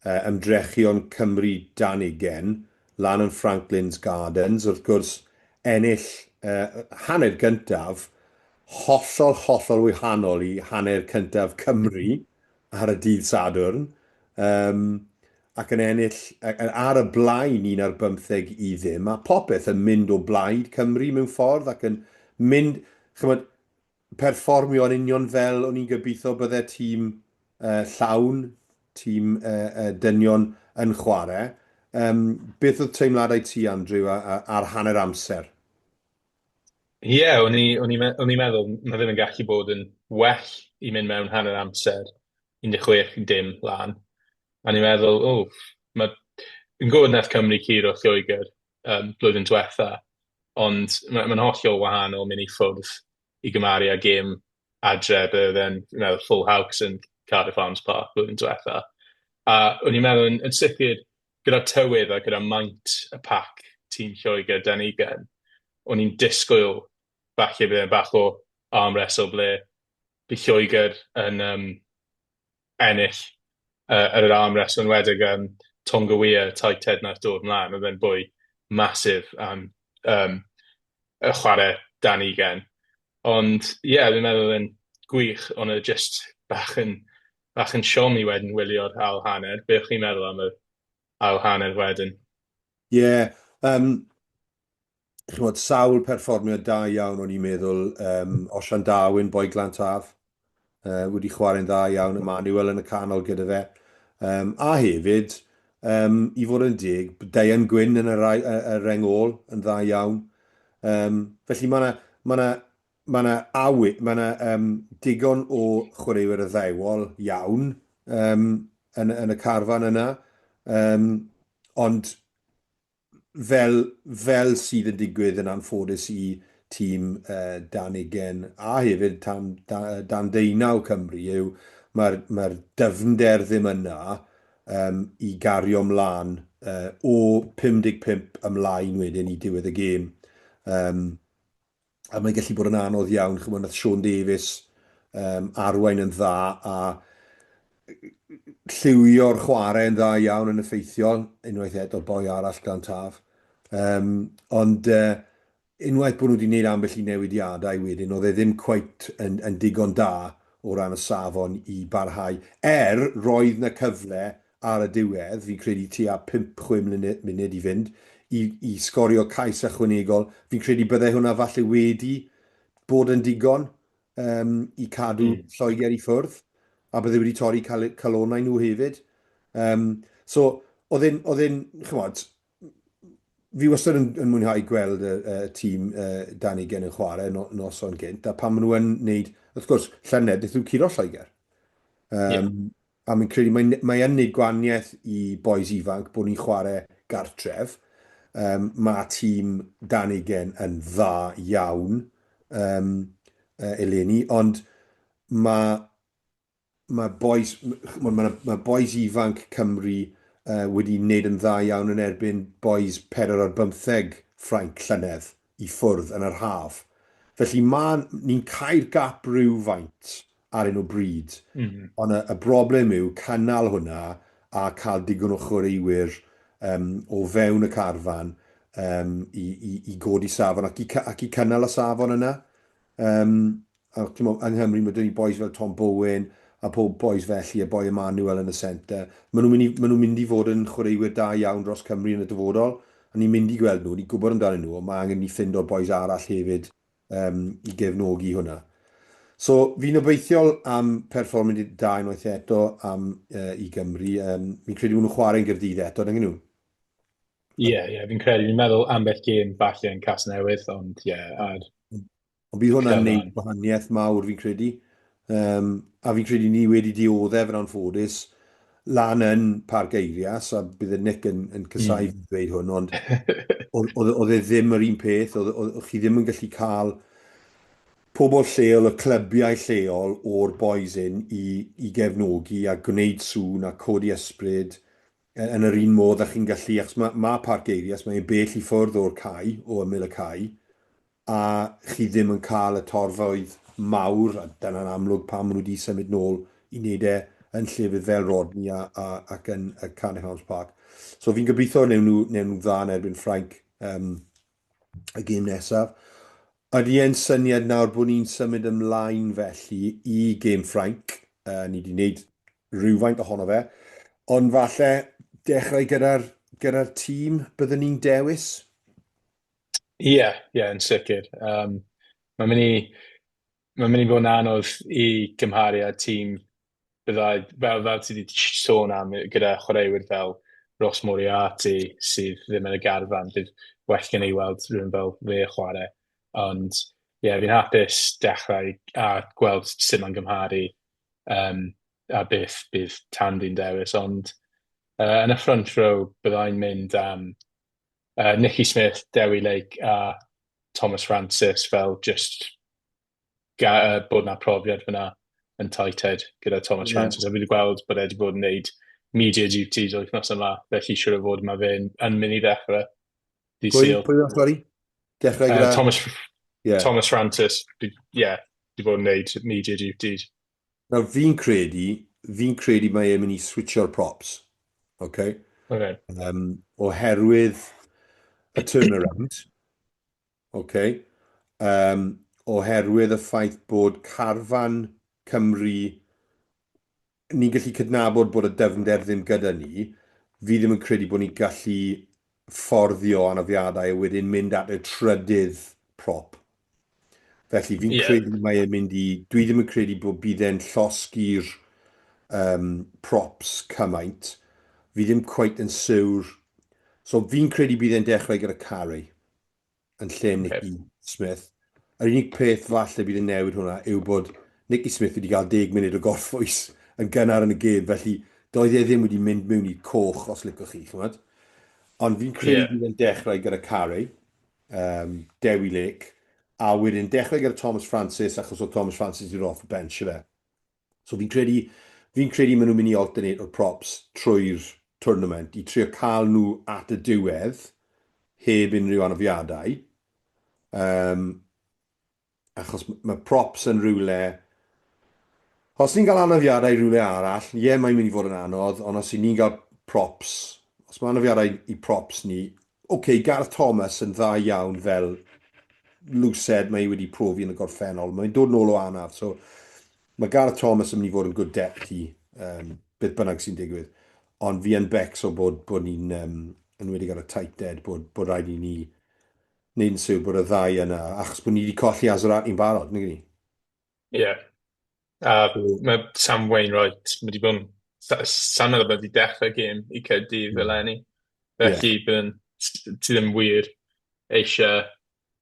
ymdrechion Cymru dan ugain, lan yn Franklin's Gardens, wrth gwrs, ennill y hanner gyntaf, hollol, hollol wahanol i hanner cyntaf Cymru ar y dydd Sadwrn, yym, ac yn ennill ar y blaen un ar bymtheg i ddim, a popeth yn mynd o blaid Cymru mewn ffordd ac yn mynd, chymod, perfformio yn union fel o'n i'n gobeithio bydde tîm uh, llawn, tîm uh, uh, dynion yn chwarae. Um, beth oedd teimladau ti, Andrew, ar hanner amser? Ie, yeah, o'n i'n meddwl, mae ddim yn gallu bod yn well i mynd mewn hanner amser 16 i dim lan. A ni'n meddwl, o, oh, mae yn gwybod nath Cymru curo Lloegr yym blwyddyn diwetha', ond ma' ma'n hollol wahanol myn' i ffwrdd i gymaru â gêm adre be' odd e'n fi'n meddwl Full House yn Cardiff Arms Park blwyddyn diwetha', a o'n i'n meddwl yn yn sicir gyda'r tywydd a gyda maint y pac tîm Lloegr 'da ni gen, o'n i'n disgwyl falle bydd e'n bach o arm wrestle ble by' Lloegr yn yym ennill yy yr arm rest enwedig yym Tonga Weir taith teyrnas dod mlan odd e'n bwy massive yym yym yy chware dan ugen ond ie fi'n meddwl odd e'n gwych on' o' jyst bach yn bach yn siom i wedyn wylio'r ail hanner be' o' chi'n meddwl am yr ail hanner wedyn? Ie yym ch'mod, sawl perfformiad da iawn o'n i'n meddwl, yym, Osian Darwin, Boi Glan Taf, yy, wedi chwarae'n dda iawn, Emmanuel yn y canol gyda fe. Um, a hefyd, um, i fod yn deg, Diane Gwyn yn y, rai, y, y reng ôl yn dda iawn. Um, felly mae yna ma na, ma na awy, mae yna um, digon o chwaraewyr addewol iawn um, yn, yn y carfan yna. Um, ond fel, fel sydd yn digwydd yn anffodus i tîm uh, Dan Ugen a hefyd tan, dan, dan Deunaw Cymru yw mae'r mae dyfnder ddim yna um, i gario mlaen uh, o 55 ymlaen wedyn i diwedd y gêm. Um, a mae'n gallu bod yn anodd iawn. Chymod, nath Sean Davies um, arwain yn dda a lliwio'r chwarae yn dda iawn yn effeithiol, unwaith eto boi arall gan taf. Um, ond uh, unwaith bod nhw wedi gwneud ambell i newidiadau wedyn, oedd e ddim cweit yn, yn digon da o ran y safon i barhau. Er, roedd na cyfle ar y diwedd, fi'n credu tua pump, chwe mlynedd, munud i fynd, i, i sgorio cais ychwanegol. Fi'n credu byddai hwnna falle wedi bod yn digon um, i cadw mm. Lloegr i ffwrdd, a byddai wedi torri cal calonau nhw hefyd. Um, so, oedd e'n, oedd e'n, chymod, fi wastad yn, yn mwynhau gweld y, y tîm uh, dan ei gen yn chwarae no, noson gynt, a pan maen nhw'n wneud, wrth gwrs, llynedd, beth yw curo Lloegr. Um, yeah. A fi'n credu mae mae yn neud gwanieth i bois ifanc bod ni'n chware gartref. Yym mae tîm dan ugen yn dda iawn yym yy eleni ond mae mae bois ch'mod mae mae bois ifanc Cymru yy wedi neud yn dda iawn yn erbyn bois pedwar ar bymtheg Ffrainc llynedd i ffwrdd yn yr haf. Felly mae ni'n cau'r gap rywfaint ar un o bryd. Mm -hmm. Ond y, y broblem yw cynnal hwnna a cael digon o chwaraewyr um, o fewn y carfan um, i, i, i godi safon ac i, ac i cynnal y safon yna. Um, a, mo, yng Nghymru mae dyn ni boes fel Tom Bowen a pob boes felly, a boi Emmanuel yn y centre. Maen nhw'n mynd, nhw mynd i fod yn chwaraewyr da iawn dros Cymru yn y dyfodol, a ni'n mynd i gweld nhw, ni'n gwybod amdanyn nhw, ond mae angen ni ffind o'r boes arall hefyd um, i gefnogi hwnna. So, fi'n obeithiol am perfformyd da unwaith eto am, uh, i Gymru. Um, fi'n credu bod nhw'n chwarae'n gyrdydd eto, dyn nhw? Ie, yeah, yeah, fi'n credu, fi'n meddwl ambell gêm falle yn cas newydd, ond ie, yeah, ar... Ond bydd hwnna'n neud gwahaniaeth mawr, fi'n credu. Yym, a fi'n credu ni wedi dioddef yn anffodus lan yn Parc Eirias, a bydde Nick yn, yn casau mm. dweud hwn, ond oedd e ddim yr un peth, oedd chi ddim yn gallu cael pobl lleol, y clybiau lleol o'r boys in i, i gefnogi a gwneud sŵn a codi ysbryd e, yn yr un modd a chi'n gallu, achos mae, mae Parc Eirias, mae'n bell i ffwrdd o'r cae, o ymyl y cae, a chi ddim yn cael y torfeydd mawr, a dyna'n amlwg pam maen nhw wedi symud nôl i wneud e yn llefydd fel Rodney a, a, ac yn uh, Cardiff Arms Park. So fi'n gobeithio newn nhw, newn nhw dda yn erbyn Ffrainc um, y gêm nesaf. Ydy e'n syniad nawr bod ni'n symud ymlaen felly i gêm Ffrainc? Uh, ni wedi gwneud rhywfaint ohono fe, ond falle dechrau gyda'r gyda tîm byddwn ni'n dewis? Ie, ie, yn sicr. Um, mae'n mynd i, mae'n mynd i fod yn anodd i gymharu â tîm byddai, fel, fel ti wedi sôn am, gyda chwaraewyr fel Ross Moriarty sydd ddim yn y garfan, bydd well gen i weld rhywun fel fe chwarae. Ond ie, yeah, fi'n hapus dechrau a gweld sut mae'n gymharu um, a beth bydd Tandy'n dewis. Ond uh, yn y front row byddai'n mynd am yy Nicky Smith, Dewi Lake a Thomas Francis fel jyst ga- yy bod 'na profiad fyna yn Tai Ted gyda Thomas yeah. Francis a fi wedi gweld bod e wedi bod yn neud media duties wythnos yma felly siwr o fod mae fe'n yn mynd i ddechrau Di pwy, Sil. Pwy o'n sori? Dechrau gyda... Uh, Thomas, yeah. Thomas Francis, ie, yeah, di bod yn neud media duties. Nawr fi'n credu, fi'n credu mae e'n mynd i switsio'r props. OK? OK. Um, oherwydd y turnaround. OK? Um, oherwydd y ffaith bod carfan Cymru, ni'n gallu cydnabod bod y dyfnder ddim gyda ni, fi ddim yn credu bod ni'n gallu fforddio anafiadau a wedyn mynd at y trydydd prop. Felly fi'n yeah. credu mae e'n mynd i... Dwi ddim yn credu bod bydd e'n llosgi'r um, props cymaint. Fi ddim cweit yn siwr. So fi'n credu bydd e'n dechrau gyda Carey. yn lle Nicky Smith. Yr unig peth falle bydd yn newid hwnna yw bod Nicky Smith wedi cael deg munud o gorffwys yn gynnar yn y gêm, felly doedd e ddim wedi mynd mewn i coch os licwch chi, chymod. Ond fi'n credu yeah. bydd yn dechrau gyda Carey, um, Dewi Lake, a wedyn dechrau gyda Thomas Francis achos o Thomas Francis i'r off y bench, efe. So fi'n credu, fi'n credu maen nhw'n mynd i alternate o'r props trwy'r twrnament i trio cael nhw at y diwedd heb unrhyw anafiadau. Um, achos mae props yn rhywle... Os ni'n cael anafiadau rhywle arall, ie, yeah, mae'n mynd i fod yn anodd, ond os ni'n cael props, os mae anafiadau i props ni, Ok, Gareth Thomas yn dda iawn fel lwsed, mae hi wedi profi yn y gorffennol. Mae'n dod nôl o anaf, so mae Gareth Thomas yn mynd i fod yn good depth i um, beth bynnag sy'n digwydd. Ond fi yn becs o bod, bod ni'n, um, yn wedi ar y tight dead, bod, bod rhaid i ni wneud yn siwr bod y ddau yna, achos bod ni wedi colli Azarati'n barod, nid ni? Ie, a mae Sam Wainwright, mae wedi bod yn... sa- Sai'n meddwl bod wedi dechrau gêm i Caerdydd fel enni. Felly, bydd yn... ti ddim wir eisiau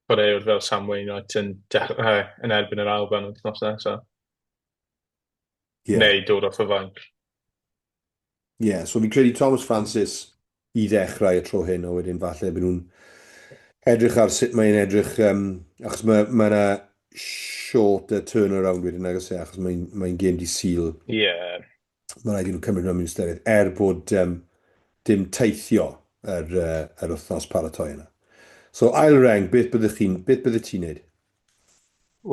chwaraewr fel Sam Wainwright yn dechrau yn erbyn yr Alban wythnos nesaf. Ie. Neu dod off y fainc. Ie, so fi'n credu Thomas Francis i ddechrau y tro hyn, a wedyn falle byd nhw'n edrych ar sut mae'n edrych, um, achos mae yna ma short a turnaround wedyn nag ys e, achos mae'n mae gêm di syl. Ie. Yeah. Mae rhaid i nhw cymryd hwnna'n mynd ystyried, er bod um, dim teithio yr, uh, yr wythnos paratoi yna. So ail reng, beth byddwch chi'n, beth byddwch ti'n neud?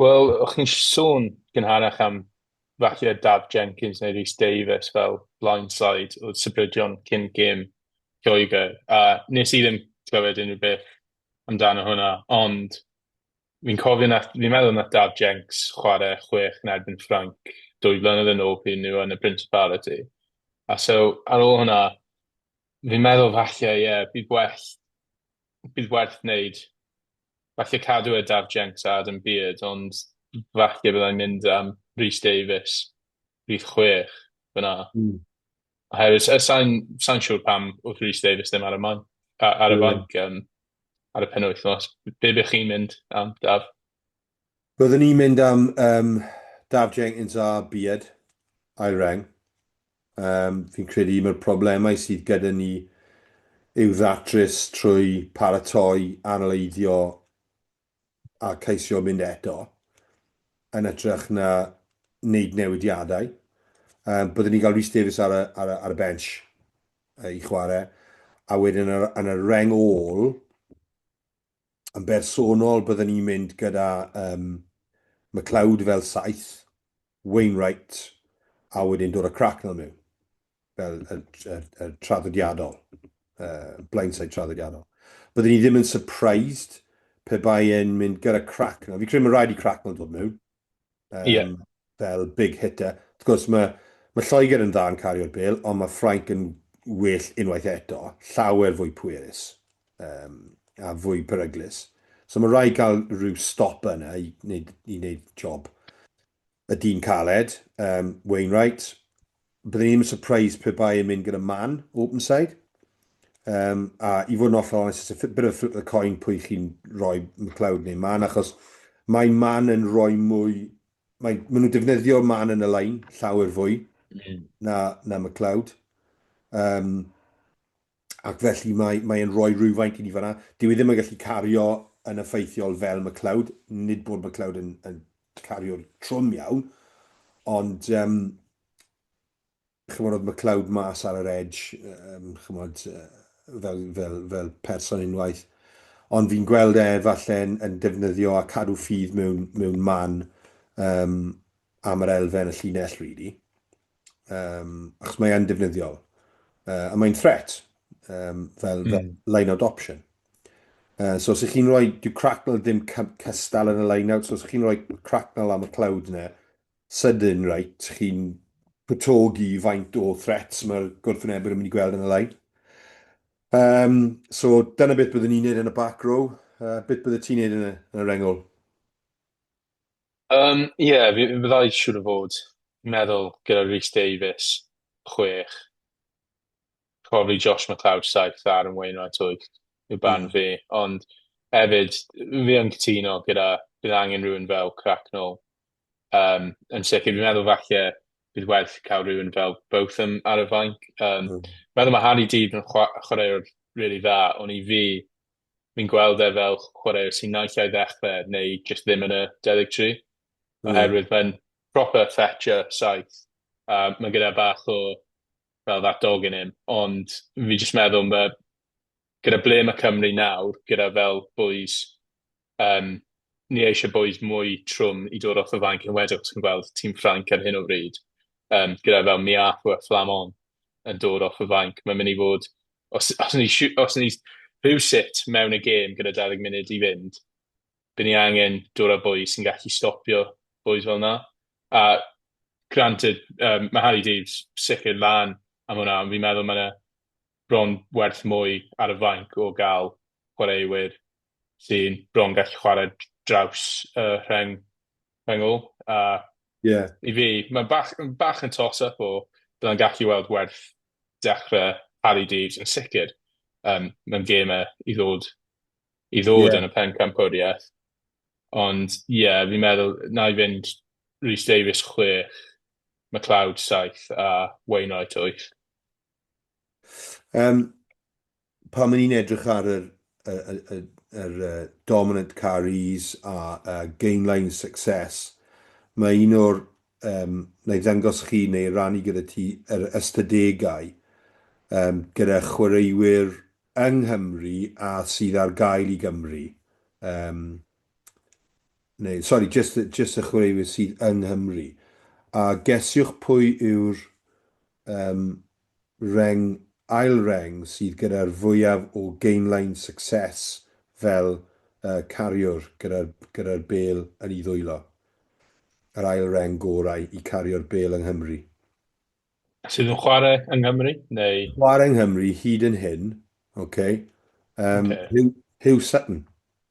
Wel, o'ch chi'n sôn gynharach am falle Daf Jenkins neu Rhys Davies fel blindside oedd sybrydion cyn gêm Lloegr. A nes i ddim clywed unrhyw beth amdano hwnna, ond fi'n cofio na, fi'n meddwl na Daf Jenks chwarae chwech yn erbyn Ffranc dwy flynedd yn ôl pryd nhw yn y Principality. A so, ar ôl hwnna, Fi'n meddwl falle ie bydd well bydd werth wneud falle cadw e Daf Jenks a Adam Beard ond falle byddai'n mynd am Rhys Davies rhif chwech fyna. Mm. Oherwydd sa- sa'n sa'n siŵr pam wrth Rhys Davies ddim ar y man a- ar y Ie. fanc yym ar y penwythnos. Be' be' chi'n mynd am Daf? Byddwn ni'n mynd am um, Daf Jenkins a Beard, ail reng. Um, fi'n credu mae'r problemau sydd gyda ni i'w ddatrys trwy paratoi, analeiddio a ceisio mynd eto yn ytrach na wneud newidiadau. Um, byddwn ni'n cael Rhys Davies ar y, ar y, ar y bench uh, i chwarae, a wedyn yn y, yn y reng ôl, Yn bersonol, byddwn ni'n mynd gyda um, McLeod fel saith, Wainwright, a wedyn dod â Cracknell mewn, fel y, y, y traddodiadol, uh, blindside traddodiadol. Byddwn ni ddim yn surprised pe bai e'n mynd gyda Cracknell. Fi credu mae'n rhaid i Cracknell dod mewn. um, yeah. fel big hitter. Wrth gwrs, mae, mae Lloegr yn dda yn cario'r bel, ond mae Ffrainc yn well unwaith eto, llawer fwy pwerus um, a fwy peryglus. So mae rhaid cael rhyw stop yna i wneud, i wneud job. Y dyn caled, um, Wainwright, Byddwn i ddim yn surprised pe bai yn mynd gyda man, open side. Um, a i fod yn oll onest, it's a bit of a flip of the coin pwy chi'n rhoi McLeod neu man, achos mae man yn rhoi mwy... Mae, maen nhw'n defnyddio man yn y lain llawer fwy mm. na, na McLeod. Um, ac felly mae, mae e'n rhoi rhywfaint i ni fanna. Dyw e ddim yn gallu cario yn effeithiol fel McLeod, nid bod McLeod yn, yn cario'r trwm iawn, ond um, chymod oedd McLeod mas ar yr edge, um, chymod, uh, fel, fel, fel person unwaith, ond fi'n gweld e falle yn, yn defnyddio a cadw ffydd mewn, mewn man um, am yr elfen y llinell, really. um, achos mae e'n defnyddiol. Uh, a mae'n threat, um, fel, mm. fel line-out option. Uh, so, os ych chi'n rhoi, dyw Cracknell ddim cystal yn y line-out, so os ych chi'n rhoi Cracknell am y cloud yna, sydyn, right, chi'n pwtogi faint o threats mae'r gwrthwynebwyr yn mynd i gweld yn y line. Um, so, dyna beth byddwn ni'n neud yn y back row, uh, beth byddwn ti'n neud yn y, yn y rengol? Yym, ie, fi fi fyddai siŵr o fod meddwl gyda Rhys Davies, chwech, probably Josh McLeod, saith, a Aaron Wainwright, wyth, yw barn Mm. fi. Ond hefyd, fi yn cytuno gyda bydd angen rhywun fel Cracknell um, yn sicr. Fi'n meddwl falle bydd werth cael rhywun fel Botham ar y fainc. Um, Mm. Meddwl mae Harry Deed yn chwa- chwaraewr really dda, ond i fi, fi'n gweld e fel chwaraewyr sy'n naill ai ddechrau neu jyst ddim yn y 13. Mm. Oherwydd mae'n proper fetcher saith. Uh, mae gyda bach o fel that dog in him. Ond fi jyst meddwl mae gyda ble mae Cymru nawr, gyda fel boys Um, ni eisiau boys mwy trwm i dod off y fainc yn wedyn, os chi'n gweld tîm Ffranc ar hyn o bryd, um, gyda fel Miafu a Flamon yn dod off y fainc. Mae'n mynd i fod, os, os ni, os ni rhyw sut mewn y gêm gyda 20 munud i fynd, bydd ni angen dod â boys sy'n gallu stopio boys fel yna. A granted, um, mae Harry Daves sicr lan am hwnna, ond fi'n meddwl mae yna bron werth mwy ar y fainc o gael chwaraewyr sy'n bron gallu chwarae draws y rheng rhyngl a yeah. i fi mae'n bach, bach yn toss-up o byddai'n gallu weld werth dechrau Harry Daves yn sicr um, mae'n gêmau i ddod i ddod yeah. yn y pen campwriaeth ond ie yeah, fi'n meddwl na i fynd Rhys Davies 6 McLeod 7 a Wainwright 8 Yym, pan o'n i'n edrych ar yr y y y yr yy dominant car ease a a gainline success, mae un o'r yym, na'i ddangos chi neu rannu gyda ti yr ystadegau yym gyda chwaraewyr yng Nghymru a sydd ar gael i Gymru. Yym, neu sori, jyst y jyst y chwaraewyr sydd yng Nghymru. A gesiwch pwy yw'r Ym reng ail reng sydd gyda'r fwyaf o gainline success fel y cariwr gyda'r gyda'r bêl yn i ddwylo. Yr ail reng gorau i cario'r bêl yng Nghymru. Sydd yn chwarae yng Nghymru neu? Chwarae yng Nghymru hyd yn hyn, ok. Yym Huw Sutton.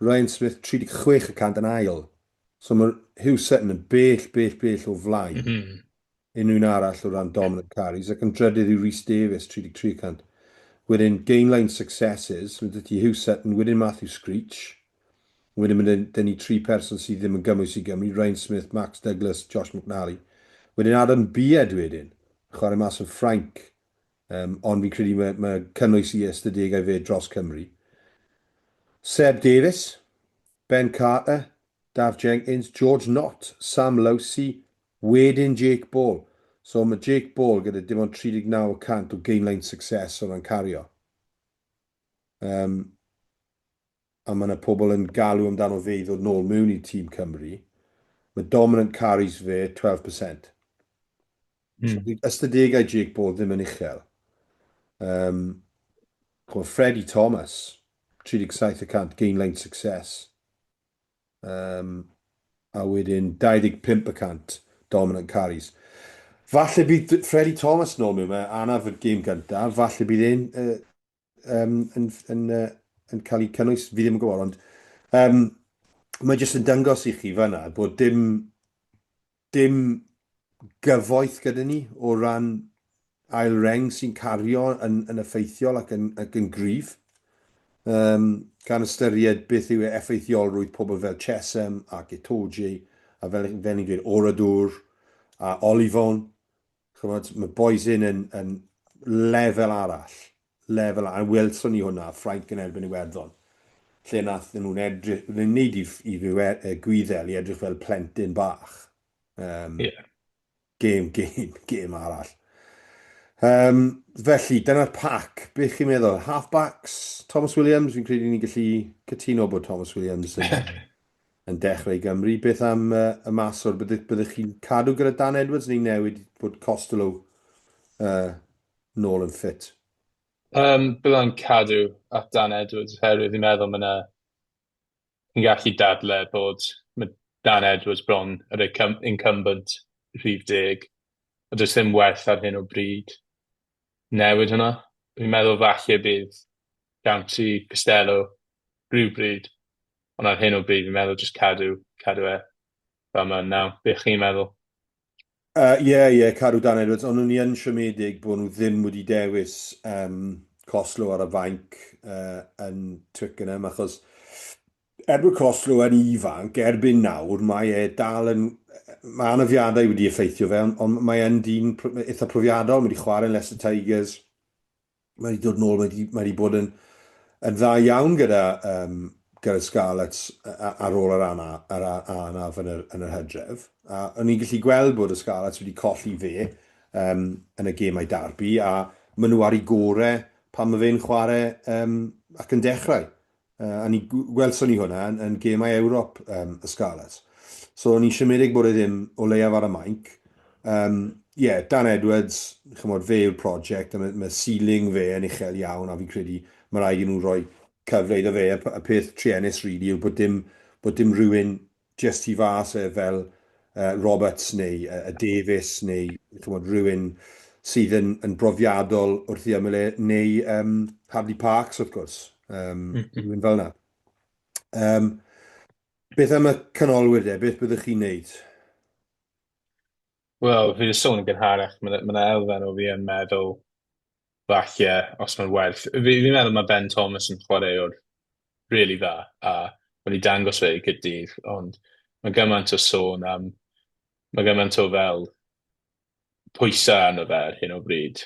Ryan Smith 36 y cant yn ail. So mae Hugh Sutton yn bell, bell, bell o flaen. Mm -hmm. Unrhyw'n arall o ran dominant carries ac yn drydydd yw Rhys Davies 33 y cant. Wedyn gainline successes, mae dydy Hugh Sutton, wedyn Matthew Screech. Wedyn mae dyn ni tri person sydd ddim yn gymwys i Gymru, Ryan Smith, Max Douglas, Josh McNally. Wedyn Adam Beard wedyn, chwarae mas yn Ffrainc. Yym, ond fi'n credu mae, mae cynnwys i ystadegau fe dros Cymru. Seb Davies, Ben Carter, Daf Jenkins, George Nott, Sam Lowsey, wedyn Jake Ball. So mae Jake Ball gyda dim ond 39 y cant o gainline success o ran cario. Um, a mae 'na pobl yn galw amdano fe i ddod nôl mewn i tîm Cymru, mae dominant carries fe 12 per cent. Mm. So, ystadegau Jake Ball ddim yn uchel. Um, Freddie Thomas, 37 y cant, gain line success. Um, a wedyn 25 y cant, dominant carries. Falle bydd Freddie Thomas nôl mewn, mae anaf y gêm gyntaf, falle bydd e'n uh, um, yn, yn, uh, yn cael ei cynnwys, fi ddim yn gwybod, ond um, mae jyst yn dangos i chi fanna bod dim, dim gyfoeth gyda ni o ran ail reng sy'n cario yn, yn effeithiol ac yn, ac yn gryf. Um, gan ystyried beth yw effeithiolrwydd pobl fel Chesem ac Etoji, a fel, fel ni'n dweud, Oradwr a Olifon, Chymod, mae Boys In yn, yn lefel arall. Lefel arall. A welson ni hwnna, Ffrainc yn erbyn Iwerddon. Lle nath nhw'n edrych, yn wneud i, i fiwer, uh, gwyddel i edrych fel plentyn bach. Um, yeah. Gêm, gêm, gêm arall. Um, felly, dyna'r pac. Be chi'n meddwl? Halfbacks, Thomas Williams, fi'n credu ni'n gallu cytuno bod Thomas Williams yn yn dechrau i Gymru, beth am y maswr, byddech chi'n cadw gyda Dan Edwards neu newid bod Costelow nôl yn ffit? Yym, bydda i'n cadw at Dan Edwards oherwydd fi'n meddwl ma' 'na... fi'n gallu dadle bod ma' Dan Edwards bron yr incum- incumbent rhif deg a does dim werth ar hyn o bryd newid hwnna. Fi'n meddwl falle bydd Dante Costelow rywbryd Ond ar hyn o bryd, fi'n meddwl just cadw, cadw e fel mae'n naw. Be chi'n meddwl? Ie, uh, yeah, yeah, cadw Dan Edwards, ond nhw'n i yn siomedig bod nhw ddim wedi dewis um, Coslo ar y fainc uh, yn Twickenham, achos er bod Coslo yn ifanc, erbyn nawr, mae e dal yn... Mae anafiadau wedi effeithio fe, ond, ond mae e'n dyn eitha profiadol, mae wedi chwarae yn Leicester Tigers, mae wedi dod nôl, mae wedi, mae wedi bod yn, yn dda iawn gyda, um, gyda Scarlets ar ôl yr ana, yr anaf yn yr, yn yr hydref. A o'n i'n gallu gweld bod y Scarlets wedi colli fe um, yn y gemau darbu a maen nhw ar ei gore pan mae fe'n chwarae um, ac yn dechrau. Uh, a ni gwelson ni hwnna yn, yn gemau Ewrop um, y Scarlets. So o'n i'n siomedig bod e ddim o leiaf ar y mainc. Um, yeah, Dan Edwards, chymod, fe yw'r prosiect, a mae, mae ceiling fe yn uchel iawn, a fi'n credu mae rhaid i nhw roi cyfle iddo fe. Y peth trienus, really, yw bod dim, bod dim rhywun jyst tu fas yy fel yy Roberts neu yy Davies neu ch'mod rywun sydd yn yn brofiadol wrth ei ymyl e neu yym Hadleigh Parkes wrth gwrs yym rywun fel 'na. Yym beth am y canolwyr de beth byddwch chi'n neud? Wel fi 'di sôn yn gynharach ma' 'na ma' 'na elfen o fi yn meddwl falle, os mae'n werth. Fi, fi'n meddwl mae Ben Thomas yn chwaraewr really dda, a mae'n i dangos fe i gydydd, ond mae gymaint o sôn am, mae gymaint o fel pwysau arno fe ar hyn o bryd.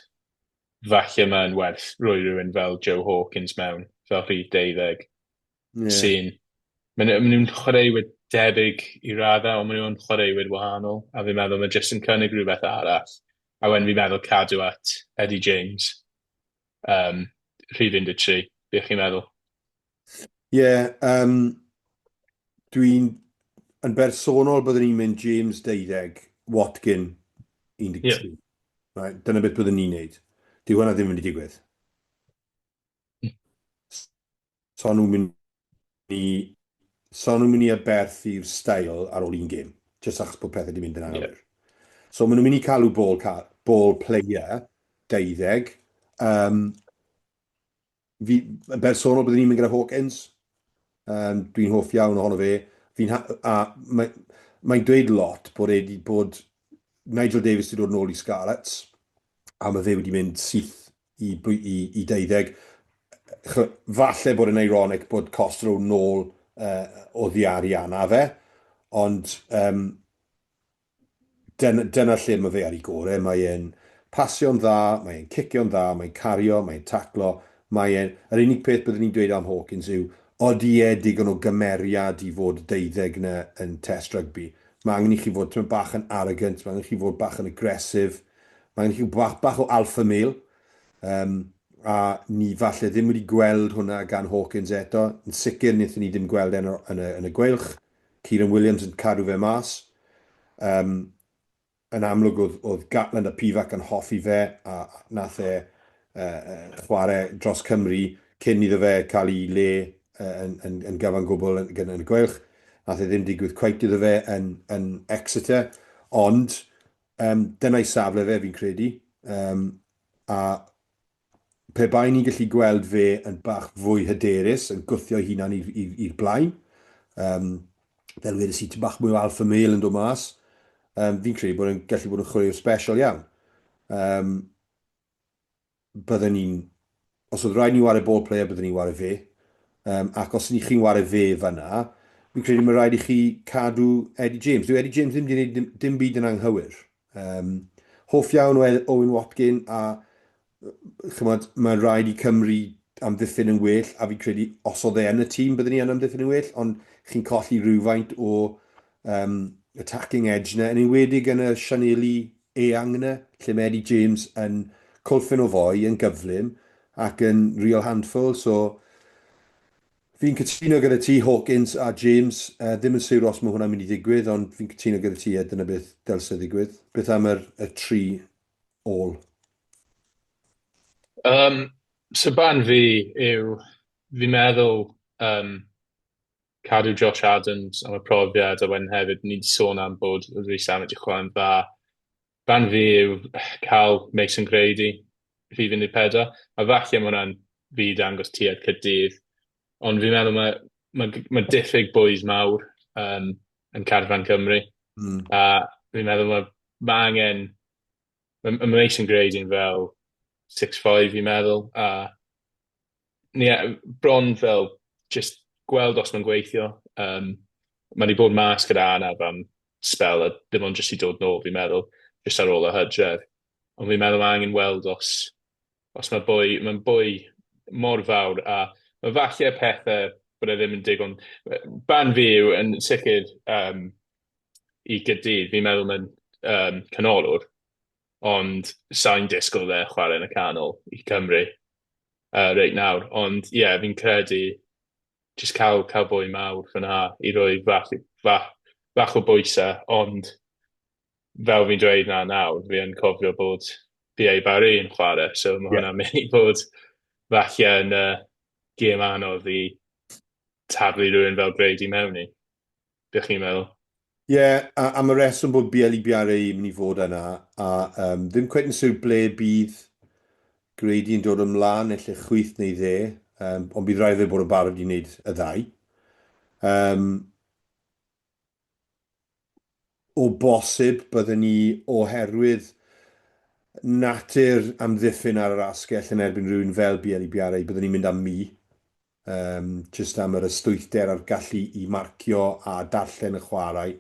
Falle mae'n werth roi rhywun fel Joe Hawkins mewn, fel rhif deuddeg, yeah. sy'n... Maen nhw'n chwaraewyr debyg i raddau, ond maen nhw'n chwaraewyr wahanol, a fi'n meddwl mae jyst yn cynnig rhywbeth arall. A wedyn fi'n meddwl cadw at Eddie James, um, rhif 13, beth chi'n meddwl? Ie, yeah, um, dwi'n yn bersonol byddwn i'n mynd James 12, Watkin 13. Yeah. Right, dyna beth byddwn ni'n neud. Di hwnna ddim yn mynd i digwydd. Sa'n nhw'n mynd i... sa'n nhw'n mynd i aberthu'r stael ar ôl un gêm, jyst achos bod pethau wedi mynd yn anghywir. Yeah. So maen nhw'n mynd i cael ball, ball player 20. Um, fi, yn bersonol, byddwn i'n mynd gyda Hawkins. Um, Dwi'n hoff iawn ohono fe. Fi'n a mae, mae'n dweud lot bod e wedi bod... Nigel Davis wedi dod yn ôl i Scarlets, a mae fe wedi mynd syth i i i deuddeg. Ch'mo', falle bod e'n ironic bod cost row nôl uh, oddi ar Iana fe, ond um, dyna, dyna lle mae fe ar ei gore. Mae e'n pasio'n dda, mae e'n cicio'n dda, mae'n cario, mae'n taclo, mae e'n... Yr unig peth byddwn ni'n dweud am Hawkins yw, odi e digon o gymeriad i fod y deuddeg na yn test rygbi? Mae angen i chi fod tymor bach yn arrogant, mae angen i chi fod bach yn agresif, Mae gen chi bach o alpha male, um, a ni falle ddim wedi gweld hwnna gan Hawkins eto. Yn sicr, nethon ni ddim gweld e'n yn y, yn y gweilch. Kieran Williams yn cadw fe mas. Um, yn amlwg oedd, oedd Gatland a Pivac yn hoffi fe, a nath e uh, chwarae dros Cymru cyn iddo fe cael ei le uh, yn, yn, yn gyfan gwbl yn, yn, yn y gweilch. Nath e ddim digwydd cweit iddo fe yn, yn Exeter, ond Yym, dyna'i safle fe, fi'n credu. Yym, a pe baen ni'n gallu gweld fe yn bach fwy hyderus, yn gwthio'i hunan i'r blaen, um, fel wedi si, ti bach mwy o alfa mail yn dod mas, um, fi'n credu bod yn gallu bod yn chwaraewr special iawn. Um, bydden ni'n... os oedd rhaid ni wario ball player, bydden ni'n wario fe. Um, ac os ni chi'n wario fe fanna, fi'n credu mae rhaid i chi cadw Eddie James. Dwi Eddie James ddim wedi gwneud dim, dim byd yn anghywir. Um, hoff iawn o Owen Watkin a chymod, mae rhaid i Cymru amddiffyn yn well a fi'n credu os oedd e yn y tîm byddwn ni yn amddiffyn yn well ond chi'n colli rhywfaint o um, attacking edge na yn enwedig yn y Sianeli Eangne, lle mae Eddie James yn colfyn o foi yn gyflym ac yn real handful, so fi'n cytuno gyda ti, Hawkins a James, yy ddim yn siwr os mae hwnna'n mynd i ddigwydd, ond fi'n cytuno gyda ti, ie, dyna beth dylse ddigwydd. Beth am yr, y tri ôl? Yym, so barn fi yw, fi'n meddwl, yym, cadw Josh Adams am y profiad, a wedyn hefyd, ni 'di sôn am bod Reece Allen wedi chwarae'n dda. Barn fi yw cael Mason Grady, rhif 14, a falle ma' hwnna'n fi i dangos tuedd Caerdydd, ond fi'n meddwl mae ma' g- ma' diffyg bwys mawr um, yn carfan Cymru, Mm. a fi'n meddwl mae ma' angen... Mae ma' Mason Grady'n fel 6'5 fi'n meddwl, a Ie, bron fel jyst gweld os mae'n gweithio. Yym, mae 'di bod mas gyda anaf am sbel a dim ond jyst 'di dod nôl fi'n meddwl, jyst ar ôl y hydref. Ond fi'n meddwl ma' angen weld os os ma' bwy, ma'n bwy mor fawr a ma' falle pethe bod e ddim yn digon yy barn fi yw yn sicir yym i Gyrdydd fi'n meddwl ma'n yym canolwr. ond sa i'n disgwyl fe chwarae yn y canol i Cymru uh, reit nawr. Ond ie, yeah, fi'n credu jyst cael, cael bwy mawr fyna i roi fach, fach, fach o bwysau, ond fel fi'n dweud na nawr, fi yn cofio bod PA Barry yn chwarae, so mae yeah. hwnna'n mynd i fod falle yn uh, gêm anodd i taflu rhywun fel Brady mewn i. Be chi'n meddwl? Ie, yeah, am y reswm bod BLE BRA yn mynd i fod yna, a um, ddim cwet yn siwr ble bydd Grady yn dod ymlaen, neu lle chwyth neu dde, um, ond bydd rhaid fe bod o barod i wneud y ddau. Um, o bosib, byddwn ni oherwydd natur amddiffyn ar yr asgell yn erbyn rhywun fel BLE BRA, byddwn ni'n mynd am mi. Yym, jyst am yr ystwythder a'r gallu i marcio a darllen y chwarae.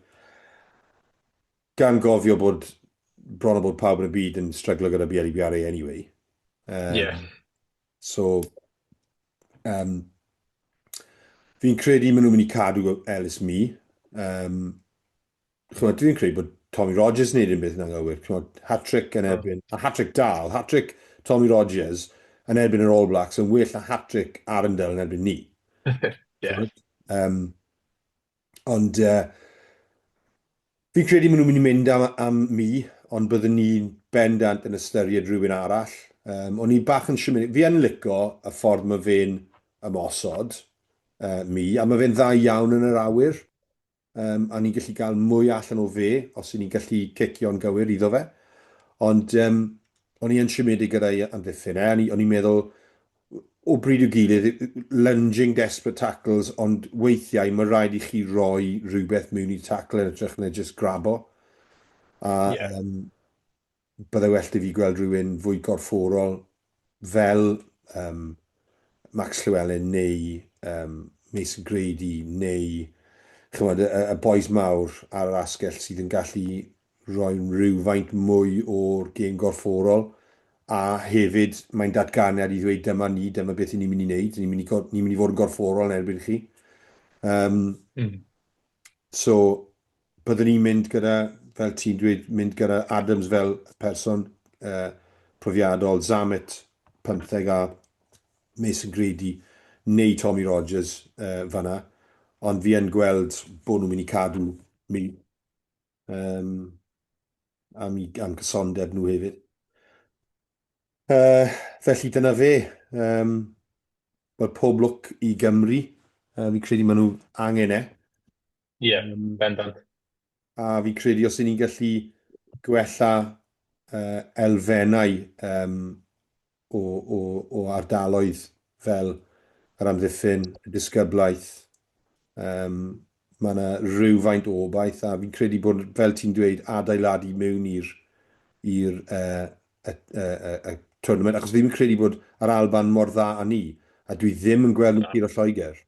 Gan gofio bod bron a bod pawb yn y byd yn stryglo gyda BLEBRA anyway. Um, yeah. So, um, fi'n credu maen nhw'n mynd i cadw Ellis Mi. Um, ch'mod, dwi'n credu bod Tommy Rogers yn neud unbeth yn anghywir, ch'mod, hat-trick yn erbyn, a hat-trick da, o'dd hat-trick Tommy Rogers yn erbyn yr All Blacks yn well na hat-trick Arundel yn erbyn ni. Ie. Yym, ond yy, fi'n credu ma' nhw'n mynd i mynd am am mi, ond byddwn ni'n bendant yn ystyried rhywun arall. Um, o'n i bach yn siwmedig. Fi yn lico y ffordd mae fe'n ymosod, uh, mi, a mae fe'n dda iawn yn yr awyr. um, a ni'n gallu cael mwy allan o fe os y'n ni'n gallu cicio'n gywir iddo fe. Ond um, o'n i yn siomedig gyda'i amddiffyn e, o'n i'n meddwl, o bryd i'w gilydd, lunging desperate tackles, ond weithiau mae rhaid i chi roi rhywbeth mewn i tackle yn ytrach na just grabo. A, yeah. um, Byddai well 'da fi gweld rhywun fwy gorfforol fel um, Max Llewellyn neu um, Mason Grady neu chymod, y, y boes mawr ar yr asgell sydd yn gallu rhoi rhywfaint mwy o'r gêm gorfforol a hefyd mae'n datganiad i ddweud dyma ni, dyma beth ni'n mynd i wneud, ni'n mynd i, ni mynd i fod yn gorfforol yn erbyn chi. Um, mm. So, byddwn i'n mynd gyda, fel ti'n dweud, mynd gyda Adams fel person uh, profiadol, Zammit, pymtheg a Mason Grady neu Tommy Rogers uh, fanna, ond fi yn gweld bod nhw'n mynd i cadw mi um, am, i, am cysondeb nhw hefyd. Uh, felly dyna fe. Um, Wel, pob lwc i Gymru. Uh, fi credu maen nhw angen e. Ie, yeah, um, bendant. A fi credu os ni'n gallu gwella uh, elfennau um, o, o, o ardaloedd fel yr amddiffyn, y disgyblaeth, um, mae yna rhywfaint o obaith a fi'n credu bod, fel ti'n dweud, adeiladu mewn i'r i'r uh, y, y, y, y tournament, achos fi'n credu bod yr Alban mor dda â ni, a dwi ddim yn gweld nhw'n yeah. curo Lloegr.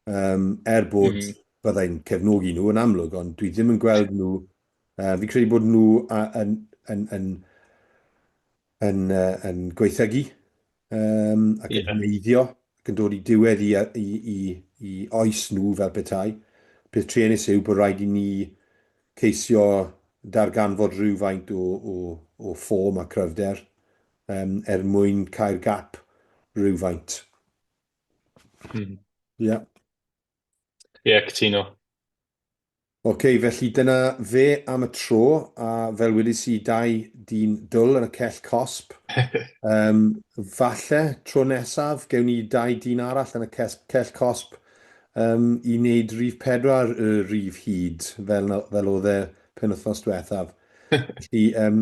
um, er bod mm -hmm. byddai'n cefnogi nhw yn amlwg, ond dwi ddim yn gweld nhw, uh, fi'n credu bod nhw a, yn, yn, yn, yn, uh, yn gweithygu um, ac yn yeah. hneiddio ac yn dod i diwedd i, i, i, i oes nhw fel petai. Peth truenus yw bod rhaid i ni ceisio darganfod rhywfaint o, o, o ffom a cryfder um, er mwyn cael gap rhywfaint. Mm. Yeah. Ie, yeah, cytuno. Oce, okay, felly dyna fe am y tro, a fel wedi si dau dyn dwl yn y cell cosp. um, falle, tro nesaf, gewn ni dau dyn arall yn y cell cosp um, i wneud rif pedwar y rif hyd, fel, fel oedd e pen wythnos diwethaf. Felly, um,